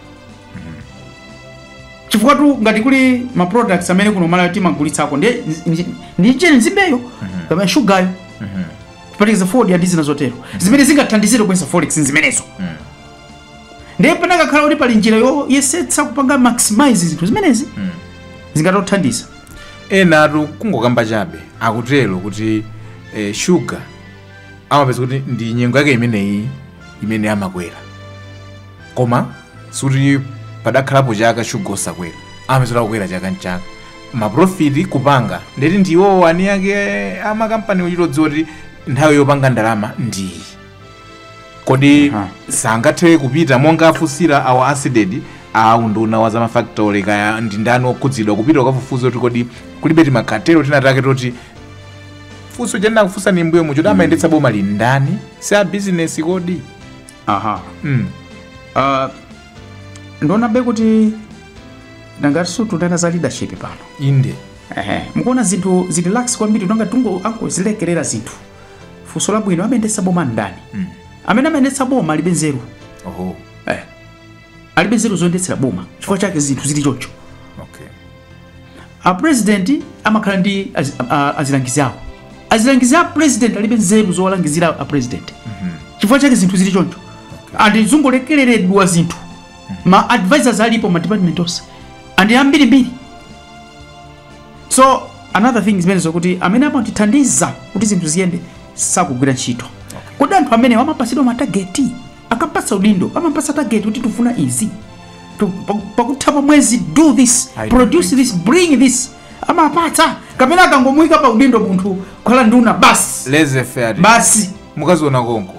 Speaker 1: chifukwa tu ngati kuli ma products amene kuno Malawi timagulitsako ndi ndi- ndi njere nzimbeyo kapena shugayo kuphatikiza fodya ndi zina zotero zimene zingathandizire kupeza forex nzimenezo ndiye pena kakhala kuti pali njira yoyesetsa kupanga maximize zinthu zimenezi zingatothandiza enatu kungokamba chabe akutero kuti eh, shuga amapeza kuti ndi nyengo yake imeneyi imene amakwera koma sikuti padakhalapo chaka shuga osakwera amadzera kukwera chaka mchaka maprofiti kupanga ndiye kuti ndiwo ani ake amakampani amachita kudziwa kuti nthawi yopanga ndalama ndiyi kodi Aha. sangathe kupita monga afunsira awa asidedi a unduna wa zamafactory kaya ndi ndani okhudzidwa kupita ukafufuza kuti kodi kulibe timakatero tinatake toti funso ndinakufunsani m'mbuyomu kuti amayendetsa boma ndi ndani si a bizinesi kodi aha mm. uh, ndikuonabe kuti ndi ngati tikunena za leadership pano inde Ehe, mukuona zinthu zili relaxed kwambiri monga ngati angozilekerera zinthu funso labwino amayendetsa boma ndani amene amayendetsa boma alibe nzeru oho eh. alibe nzeru zoyendetsera boma chifukwa chake zinthu zili choncho okay a president amakhala ndi az, a, azilangizi awo azilangizi a president alibe nzeru zowalangizira a president chifukwa chake zinthu zili choncho and zikungolekereredwa zinthu ma advisors alipo ma department onse and ambirimbiri so another thing zimene zokuti amene amatithandiza kuti zinthu ziyende sakugwira ntchito kodi anthu amene amapatsidwa matageti akampatsa udindo amampatsa target kuti tifuna izi Tu- pa- pakutha pa mwezi do this I do produce think this bring this amapatsa kapena akangomuyika pa udindo munthu kukhala nduna basi laissez faire basi mukaziona konko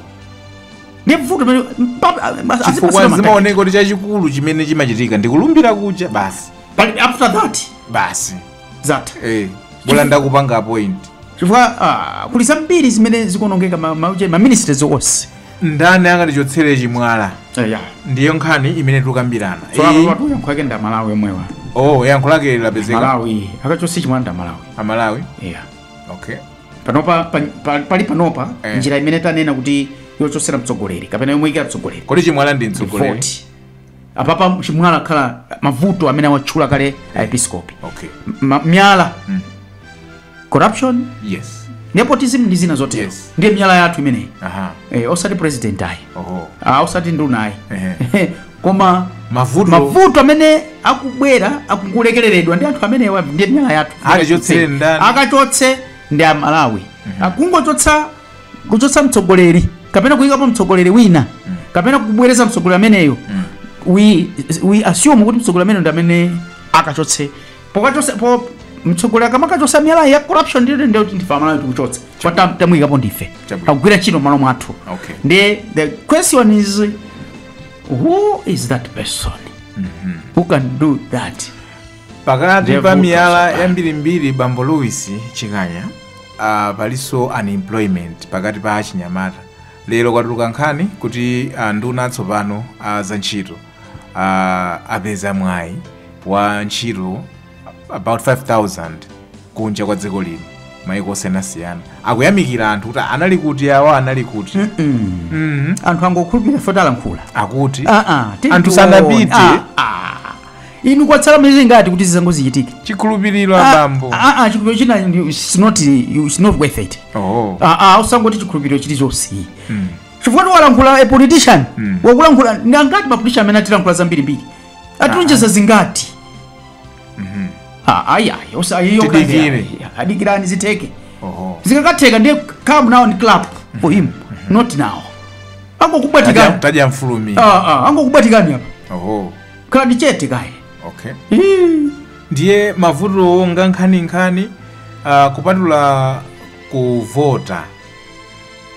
Speaker 1: ndiye mvuto pamene- pa- pa- azipatsidwa chifukwa ma target. zimaoneka kuti chachikulu chimene chimachitika ndikulumbira kuja basi Pali- after that basi zatha eh bola ndakupanga appoint chifukwa ah, kuli zambiri zimene zikuonongeka ma- ma- ma ministries onse ndani akatichotsere chimwala eya ndiyo nkhani imene tikukambirana so apa Iyi- patu yankho lake ndi amalawi omwewa oh yankho lake lapezeka malawi akachotse chimwala ndi amalawi amalawi eya okay panopa pa- pa- pali panopa Eh. njira imene tanena kuti yochotsera mtsogoleri kapena yomuikira mtsogoleri kodi chimwala ndi mtsogoleri Vote. apapa chimwala akhala mavuto amene awatchula kale aepiskopi okay Ma- miyala corruption yes nepotism ndi zina zotero Yes. ndiye miyala yathu imeneyi aha eh, osati president ayi oho ah, osati nduna ayi Ehe. koma Mavuto. mavuto amene akubwera akulekereredwa ndi anthu amenewa ndiye miyala yathu Akachotse ndani? akachotse ndi amalawi akungochotsa kuchotsa mtsogoleri kapena kuyikapo mtsogoleri wina kapena kubwereza mtsogoleri ameneyo we, we assume kuti mtsogoleri ameneyo ndi amene akachotse pokachotsapo mtsogoleri akamachotsa miyala ya corruption ndi ndi kuti ndife aMalawi tikuchotsa kwa tam- tamuyikapo ndife Chabwino. akugwira ntchito malo mwathu Okay. ndi the question is who is that person who can do that pakati Devil pa miyala Kasaba. yambirimbiri bambo Louis Chikanya uh, palinso unemployment pakati pa achinyamata lero kwatuluka nkhani kuti uh, a nduna atsopano uh, za ntchito uh, apeza mwayi wa ntchito about 5000 kunja kwa dziko lino maiko osiyanasiyana akuyamikira anthu kuti anali kuti awo anali kuti anthu angokhulupirira foti alankhula akuti Ah, ah, tiyeni anthu tione. sanapite Ah, ah. inu kwatsala miyezi ingati kuti zimenezo zichitike chikhulupiriro Ah, abambo ah, ah, chikhulupiriro china ndi- it's not, it's not worth it oh Ah, ah, usangoti chikhulupiriro chilichonse chifukwa tikulankhula a politician wakulankhula ndi angati mapolitician amene atilankhula zambirimbiri atilonjeza zingati Ah, ayi ayi osa- ayi, yo kande, Tidikire. ayi, dikirani zitheke oh zikakatheka ndiye come now and clap for him not now angokubwatikani tajamfulumira Ah, ah, angokubwatikani apa oh khalani chete kaye okay ndiye mavutowo ngankhaninkhani uh, kupatula kuvota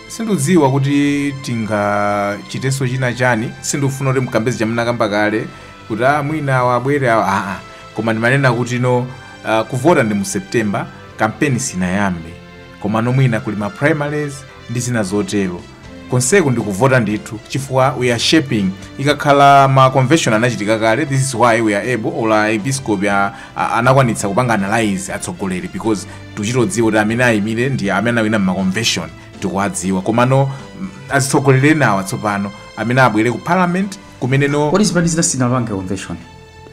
Speaker 1: sindikudziwa kuti tingachitenso china chani sindikufuna kuti ndikambe zija munakamba kale kuti ah, mwina awa abwere awa aa koma ndimanena kuti no uh, kuvota ndi mu september kampeni sinayambe komano mwina kuli ma primaries ndi zina zotero konseku ndikuvota ndithu chifukwa we are shaping ikakhala ma convention anachitika kale this is why we are able olo episcopal a- a- anakwanitsa kupanga analyze atsogoleri because tikuchita kudziwa kuti amene ayimire ndi amene anawina mma convention tikuwadziwa komano mm, azitsogoleri enawa tsopano amene abwere ku parliament kumene no kodi zipani zina sizinapange convention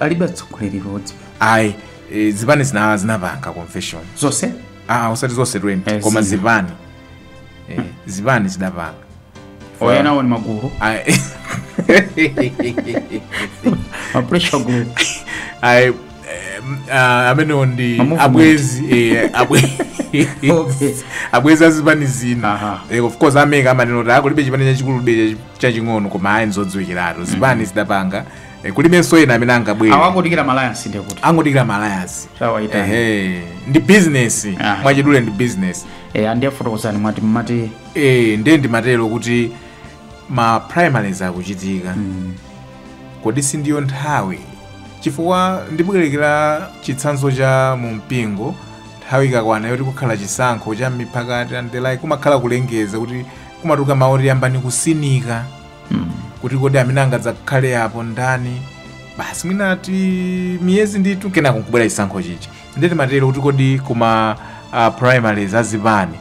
Speaker 1: alibe atsogoleri pamodzi ayi eh, zipani zina zinapanga convention zonse ah usati zonse 20 Eh, koma zina. zipani eh, zipani zidapanga enawo ndi magulu Ah, ma pressure group ah, eh, ah, amenewo ndi Mamovement. abwezi eh, abwe- Okay. abwezi azipani zina Aha. Eh, of course a MEC amanena kuti aa kulibe chipani chachikulu ndi chaching'ono koma ayi nzodziwikiratu zipani zidapanga Eh, kulibenso ena amene angabwere awangodikira malayansi ndiye kuti angodikira ma alliance sawayitana ehe ndi business Ah. mwachidule ndi business eh andiye fotokozani mwati mmati eh ndiye ndimatero kuti ma primaries akuchitika kodi si ndiyo nthawi chifukwa ndibwerekera chitsanzo cha mu mpingo nthawi ikakwana yoti kukhala chisankho cha mipakati and the like kumakhala kulengeza kuti kumatuluka mawu oti yambani kusinkha mm. kuti kodi amene angadzakhale apo ndani basi mwina ati miyezi ndithu kenako nkubwera chisankho chija nde ndimatero kuti kodi ku ma uh, primaries a zipani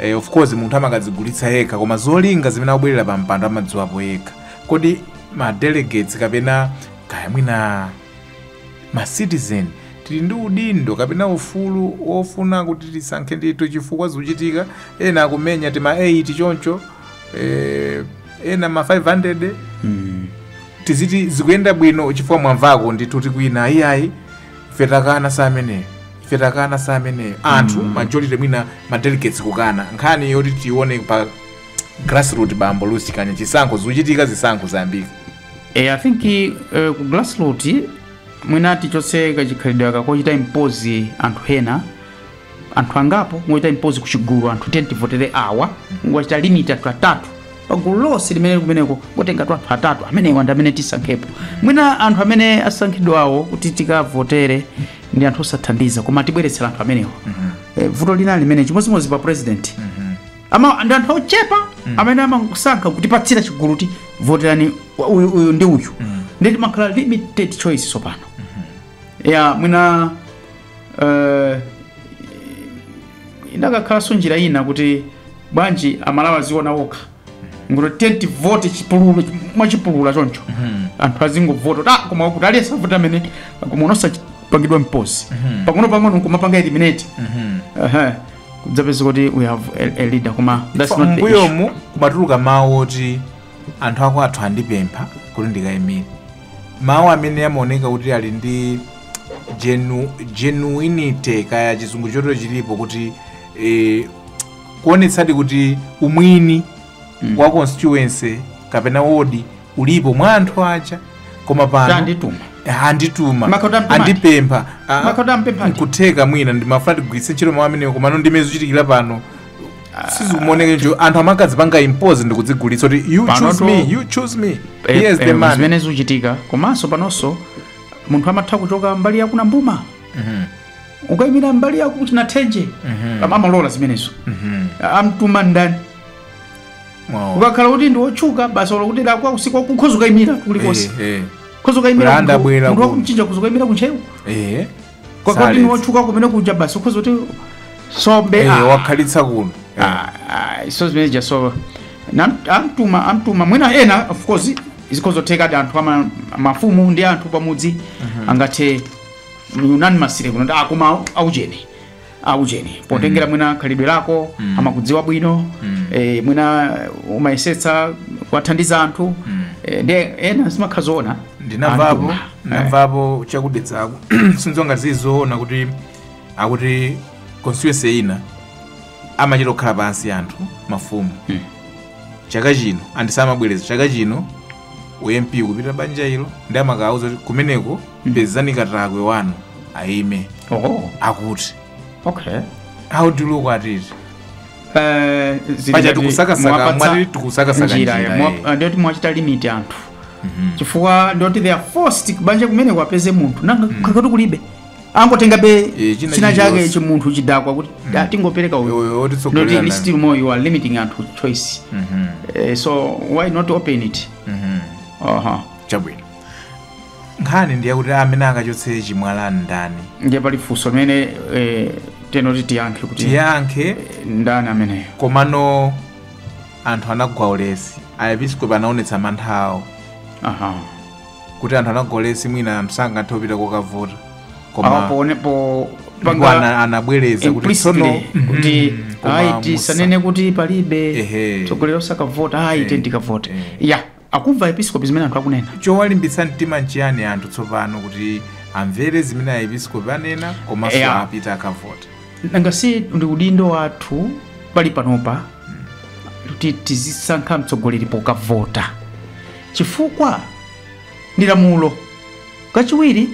Speaker 1: eh, of course munthu amakadzigulitsa yekha koma zolinga zimene akubwerera pa mpando amadziwapo yekha kodi ma delegates kapena kaya mwina ma citizen tili ndi udindo kapena ufulu wofuna kuti tisankhe ndithu chifukwa zikuchitika ena akumenya tima 8 choncho eh, ena ma 500 Mm. tiziti zikuyenda bwino chifukwa mwamvako ndithu kuti kwina iyayi ife takana za ameneyo ife takana za ameneyo anthu majority mwina ma delegates kukana nkhani yoti tione pa grassroot bambo lusi kanya chisankho zikuchitika zisankho zayambika e, I think uh, ku grassroot mwina tichotse kachikhalidwe aka kochita impose anthu ena anthu angapo nkungochita impose ku chigulu anthu 10 tivotere awa nkungochita limit anthu atatu pagulu lonse limene likumeneko nkungotenga anthu atatu amenewa ndi amene tisankhepo mwina anthu amene asankhidwawo kuti tikavotere ndi anthu osathandiza kumatibweretsera anthu amenewa Eh, vuto lina limene chimodzimodzi pa president ndi anthu ochepa amene amasankha kutipatsira chigulu kuti voterani uyu uyu ndi uyu ndiye timakhala limited choice tsopano ya mwina Eh, ikanakhalanso njira ina kuti bwanji aMalawi aziona okha nkungoti tivote chipululu mwachipulula choncho anthu azingovota kuti ah, koma kuti aliyense avota amene koma osapangidwa impose pang'ono pang'ono nkumapanga eliminate Aha. kudzapeza kuti we have a, a leader koma that's not the issue. mbuyomu kumatuluka mawu oti anthu akwathu andipempha kuti ndikayimire mawu amene amaoneka kuti ali ndi genu, genuinity kaya chizungu chotero chilipo kuti eh, kuonetsadi kuti umwini mm. wa constituency kapena wodi ulipo mwa anthu aja koma pano cha andituma andituma Makhota amtuma ati? andipempha ah, Makhota ampempha ati? nkutheka mwina ndimafuna tigwiritse ntchito mawu amenewo komano ndi mmene zikuchitikira pano sizimuoneke anthu amakazipanga impose ndikudzigulitsa kuti you Panoto- choose me you choose me Eh, here's eh, the man zimene zikuchitika komanso panonso munthu amatha kuchoka mbali ya kwa Nambuma ukayimira mbali ya kwa Chinathenje koma amalola zimenezo wamtuma ndani Wow. ukakhala kuti ndi wotchuka basi olo kuti lakwa usiku akhoza ukayimira kulikonse Eh, eh. khoza ukayimira Kulanda bwera munthu ku- wakumchinja khoza ukayimira ku Ntcheu Eh. Kwa kuti ndi wotchuka kumene kuja basi ukhoza kuti zombe Eh, ah, wakhalitsa kuno ah, ah, so zimene zija so nam- amtuma amtuma mwina ena of course zikhoza kutheka ati anthu ama mafumu ndi anthu pamudzi angathe unanimously kunena kuti akoma aujeni aujeni potengera mwina khalidwe lako Mm. amakudziwa bwino Mm. e, mwina umayesetsa kuwathandiza anthu Mm. e, ndi ena ndimakhala ndiona ndinamvapo Anthu. Eh. ndinamvapo cha ku Dedzako sindziwa ngati nzoona kuti akuti constituency ina amachita kukhala pansi anthu mafumu Mm. chaka chino and samabwereza chaka chino u MP kupita banja ilo ndi amakawauza kuti kumeneko pezani katakwe wanu aime oh akuti okay how do you look at it Eh, zili Paja ngati tikusakasaka, mwapatsa mwati tikusakasaka njira, njira, mwa- eh. eh, ndiyoti mwachita limit anthu chifukwa ndiyoti they are forced kubanja kumeneko apeze munthu nanga ngati kulibe angotengabe Eh, china china chake chilichonse. chimunthu chidakwa kuti "Ah, tingopereka uyu Uyu atitsogolera not naye." still more you are limiting anthu choice Mhm, Eh, so why not open it mhm. aha chabwino nkhani ndi yakuti amene akachotse chimwalacho ndani ndiye pali funso limene eh, tiyeni tiyankhe kuti tiyankhe ndani ameneyo komano anthu anagwa ulesi aepiskopi anaonetsa mantha awo aha kuti anthu anagwa ulesi mwina anthu sangathe kupita kokavota Ah, koma pone- po- ndipo panga- ana- anabwereza kuti tsono implicitly kuti koma ayi musa- tisanene kuti palibe Ehe. tsogoleri osakavota ayi tiyeni tikavote Eh. ya akumva episkopi zimene anthu akunena chowalimbitsa mtima nchiyani anthu tsopano kuti amvere zimene aepiskopi anena komanso Yeah. apite akavote nanga si ndi udindo wathu pali panopa kuti tizisankha mtsogoleri pokavota Chifukwa? Ndi lamulo. Kachiwiri,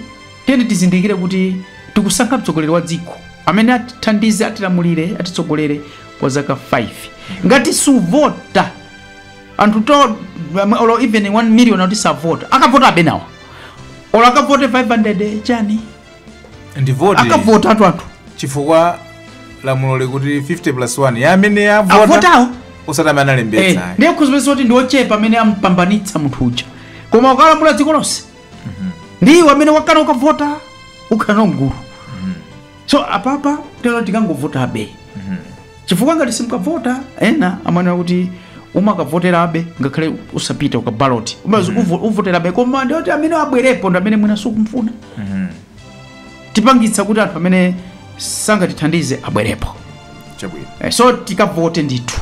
Speaker 1: tiyeni tizindikire kuti tikusankha mtsogoleri wa dziko amene atithandize, atilamulire, atitsogolere kwa zaka 5. Ngati suvota, anthu 2, olo even 1 million akuti savota, akavotabe enawo. Olo akavote 500 chani? ndi voti akavota ndi anthu chifukwa lamulo likuti 50 plus 1 ya amene avota avotawo osati amene analembetsa ayi. ndiye uzipeza kuti ndiochepa amene ampambanitsa munthu uja koma akalamulira dziko lonse ndi iwe amene wakana kukavota ukhala mgulu so apapa tiyeni tikangovotabe chifukwa ngati simukavota ena amanena kuti umakavoterabe ngakhale usapite ukabaloti umazi uvo- uvoterabe koma ndiye kuti amene abwerepo ndi amene mwina sukumfuna tipangitsa kuti anthu amene sangatithandize abwerepo chabwino Eh, so tikavote ndithu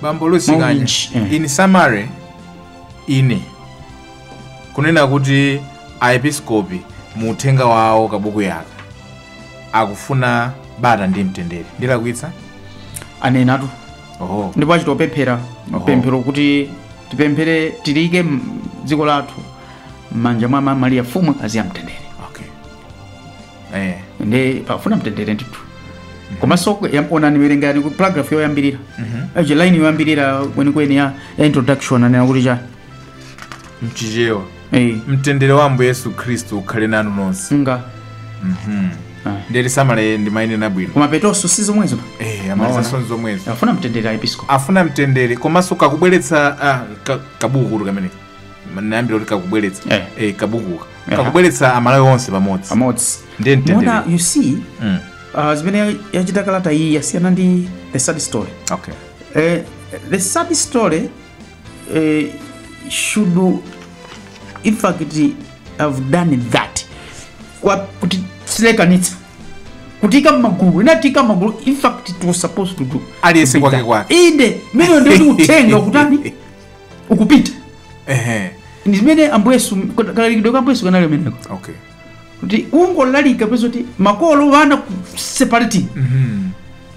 Speaker 1: bambo lusi chikanya Mawinji, eh. in summary ine ndikunena kuti aepiskopi mu uthenga wawo kabuku aka akufuna bata ndi mtendere ndilakwitsa anenatu oho ndipo achita kupemphera pemphero kuti tipemphere tiike m- dziko lathu m'manja mwa ma mariya mfumukazi ya mtendere okay eh ndiye akufuna mtendere ndithu komanso ya- onani werengani ku paragraph yoyambirira aje line yoyambirira kwenikweni ya ya introduction anena kuti chani mchichewa Eh, mtendere wa ambuye yesu khristu ukhale nanu nonse nga Mhm. Ah. nditi samala ndimanena bwino koma pothetsanso si zomwezo Eh, amaliza sonse zomwezo afuna mtendere aepiskopi afuna mtendere komanso kakubweretsa ah, ka- kabukukutu kamene nayambira kuti kakubweretsa Eh. Eh, kabuku aka Eh. kakubweretsa amalawi onse pamodzi pamodzi Ndiye mtendere. Mona, you see Mm. uh, zimene yachita kalata iyi yasiyana ndi the sad story Okay. Eh, the sad story eh, should in fact have done that Kwa- kuti isalekanitsa kutiika mmagulu inatiika mmagulu in fact it was supposed to do Aliyense kwake kwake. inde mene ndoti uthenga ukutani ukupita ehe ndi zimene ambuye yesu kalalikidwe ka ambuye yesu kanali ameneko okay kuti ungolalika pezoti makolo ana separating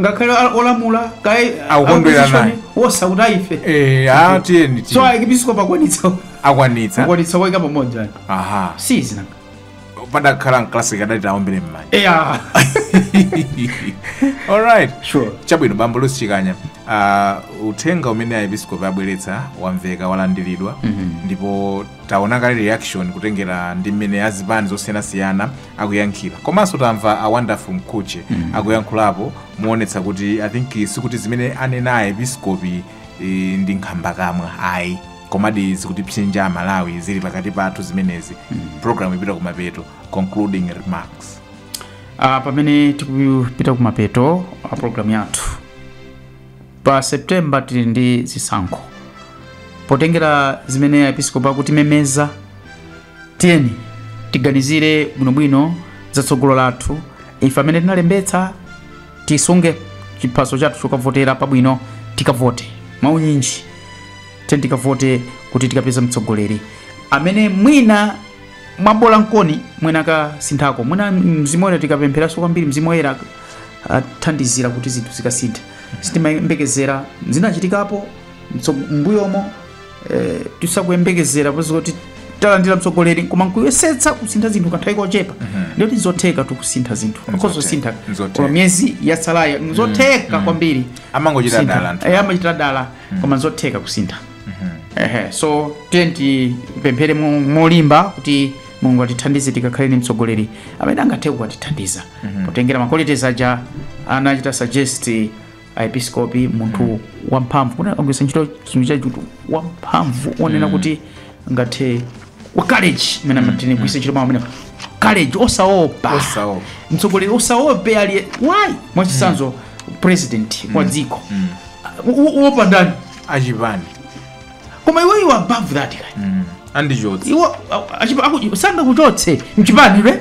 Speaker 1: ngakhale a- olamula kaye Akukondwera opposition, naye. onse akuti aife Eh, ah, tiyeni so tiyeni. aepiskopi akwanitsa akwanitsa akwanitsa kuwaika pamodzi ayi aha si chikhala padakhala m'kalasi tikadati aombere mmanja eya alright sure chabwino bambo lusi chikanya uh, uthenga umenewu aepiskopi abweretsa wamveka walandiridwa ndipo taona kale reaction kutengera ndi mmene azipani zosiyanasiyana akuyankhira komanso tamva a wonderful mkhutche akuyankhulapo kuonetsa kuti i think sikuti zimene anena aepiskopi eh, ndi nkhambakamwa ayi komadi zikutipsinja amalawi zili pakati pathu zimenezi program ikupita kumapeto concluding remarks Ah, pamene tikupita kumapeto a programu yathu pa september tili ndi zisankho potengera zimene aepiskopi akutimemeza tiyeni tiganizire bwinobwino za tsogolo lathu ife amene tinalembetsa tisunge chiphaso chathu chokavotera pabwino tikavote mwaunyinji tiyeni tikavote kuti tikapeza mtsogoleri amene mwina mwabwino nkuoni mwina akasinthako mwina mzimu woyera tikapempheranso kwambiri mzimu woyera athandizira kuti zinthu zikasinthe sitimayembekezera zinachitikapo mtso- m'mbuyomo eh, sitikuyembekezera poti talandira mtsogoleri koma nkuyesetsa kusintha zinthu kanthawi kochepa lero tizotheka tikusintha zinthu akozosintha Nzotheka. koma miyezi yatsalayo nzotheka kwambiri Amangochita kusintha. dala anthu. Eh, amachita dala koma nzotheka kusintha Ehe, so tiyeni tipemphere mo- molimba kuti mulungu atithandize tikakhale ni mtsogoleri amene angathe kukatithandiza potengera ma qualities aja anachita suggest aepiskopi munthu wamphamvu kuti agwiritsa ntchito chinthu chachuti wamphamvu onena kuti ngathe wa college imene amatene kugwiritsa ntchito mawu amene college osaopa Osaopa. mtsogoleri osaopa ali why mwachisanzo president wa dziko uopa ndani achipani koma iwe you are above that guy andichotsa iwe achipa- aku- sangakuchotse mchipani re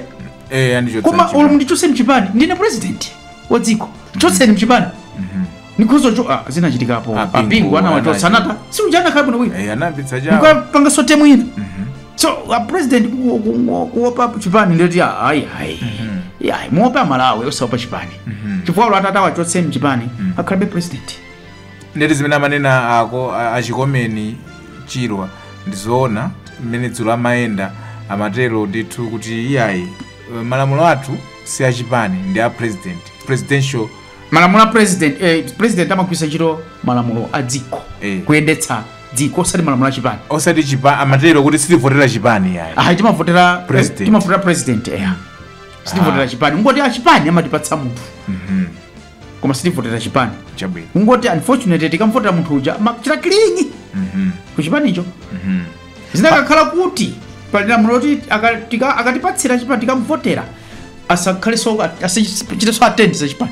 Speaker 1: eh andichotsa koma achipani. olo mundichotse mchipani ndine president wa dziko chotseni mchipani nikhozo cho ah, zinachitikapo A Bingu, a Bingu anawachotsa anachi- anata si uja anakhala bwino wina Eh, anayambitsa chawo mukapanga sote mwina so a president ku- ku- ku- kuopa chipani ndekuti ah, ayi ayi ayi muziopa amalawi osaopa chipani chifukwa olo atati awachotse mchipani akhalabe president ndekuti zimene amanena ako a- a Chikomeni Chirwa ndizoona mmene dzulo amayenda amatero ndithu kuti iyayi malamulo athu si a chipani ndi a president presidential malamulo a president eh, president amagwiritsa ntchito malamulo a dziko Eh. kuyendetsa dziko osati malamulo a chipani osati chipa amatero kuti sitivotera chipani yayi ayi timavotera President. timavotera president eya sitivotera chipani kungoti achipani amatipatsa munthu koma sitivotera chipani chabwino kungoti unfortunately tikamvotera munthu uja amachita cling kuchipanicho zikanakhala kuti pali lamulo loti aka- tika- akatipatsira chipani tikamvotera asakhaleso asachiteso attend za chipani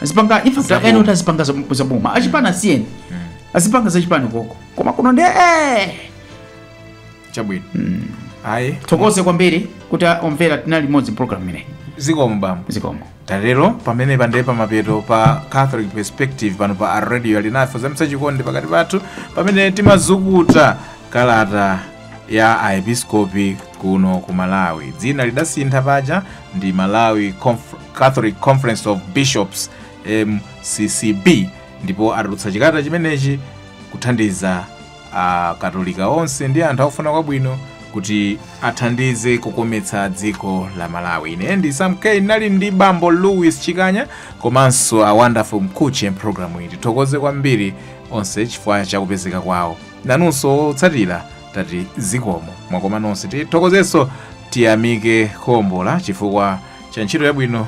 Speaker 1: azipanga Zaboma. point yonena kuti azipanga za- za boma achipani asiyeni azipanga za chipani koko koma kuno ndi eh! chabwino ayi tithokoze kwambiri kuti omvera tinali limodzi program imeneyi zikomo bambo zikomo tatero pamenepo ndiye pamapeto pa catholic perspective pano pa a radio alinafe kuzamitsa chikondi pakati pathu pamene timazukuta kalata ya aepiskopi kuno ku malawi dzina lidasintha paja ndi malawi Conf- catholic conference of bishops mccb ndipo atulutsa chikalata chimenechi kuthandiza Akatolika onse ndi anthu akufuna kwabwino kuti athandize kukometsa dziko la Malawi. Ine ndi Sam K nali ndi Bambo Louis Chikanya komanso a Wonderful Mkhuche mpulogalamu iyi. Tithokoze kwambiri onse chifukwa cha kupezeka kwawo. Nanunso otsatira tati zikomo mwakoma nonse. Tithokozenso tiyamike Khombola chifukwa cha ntchito yabwino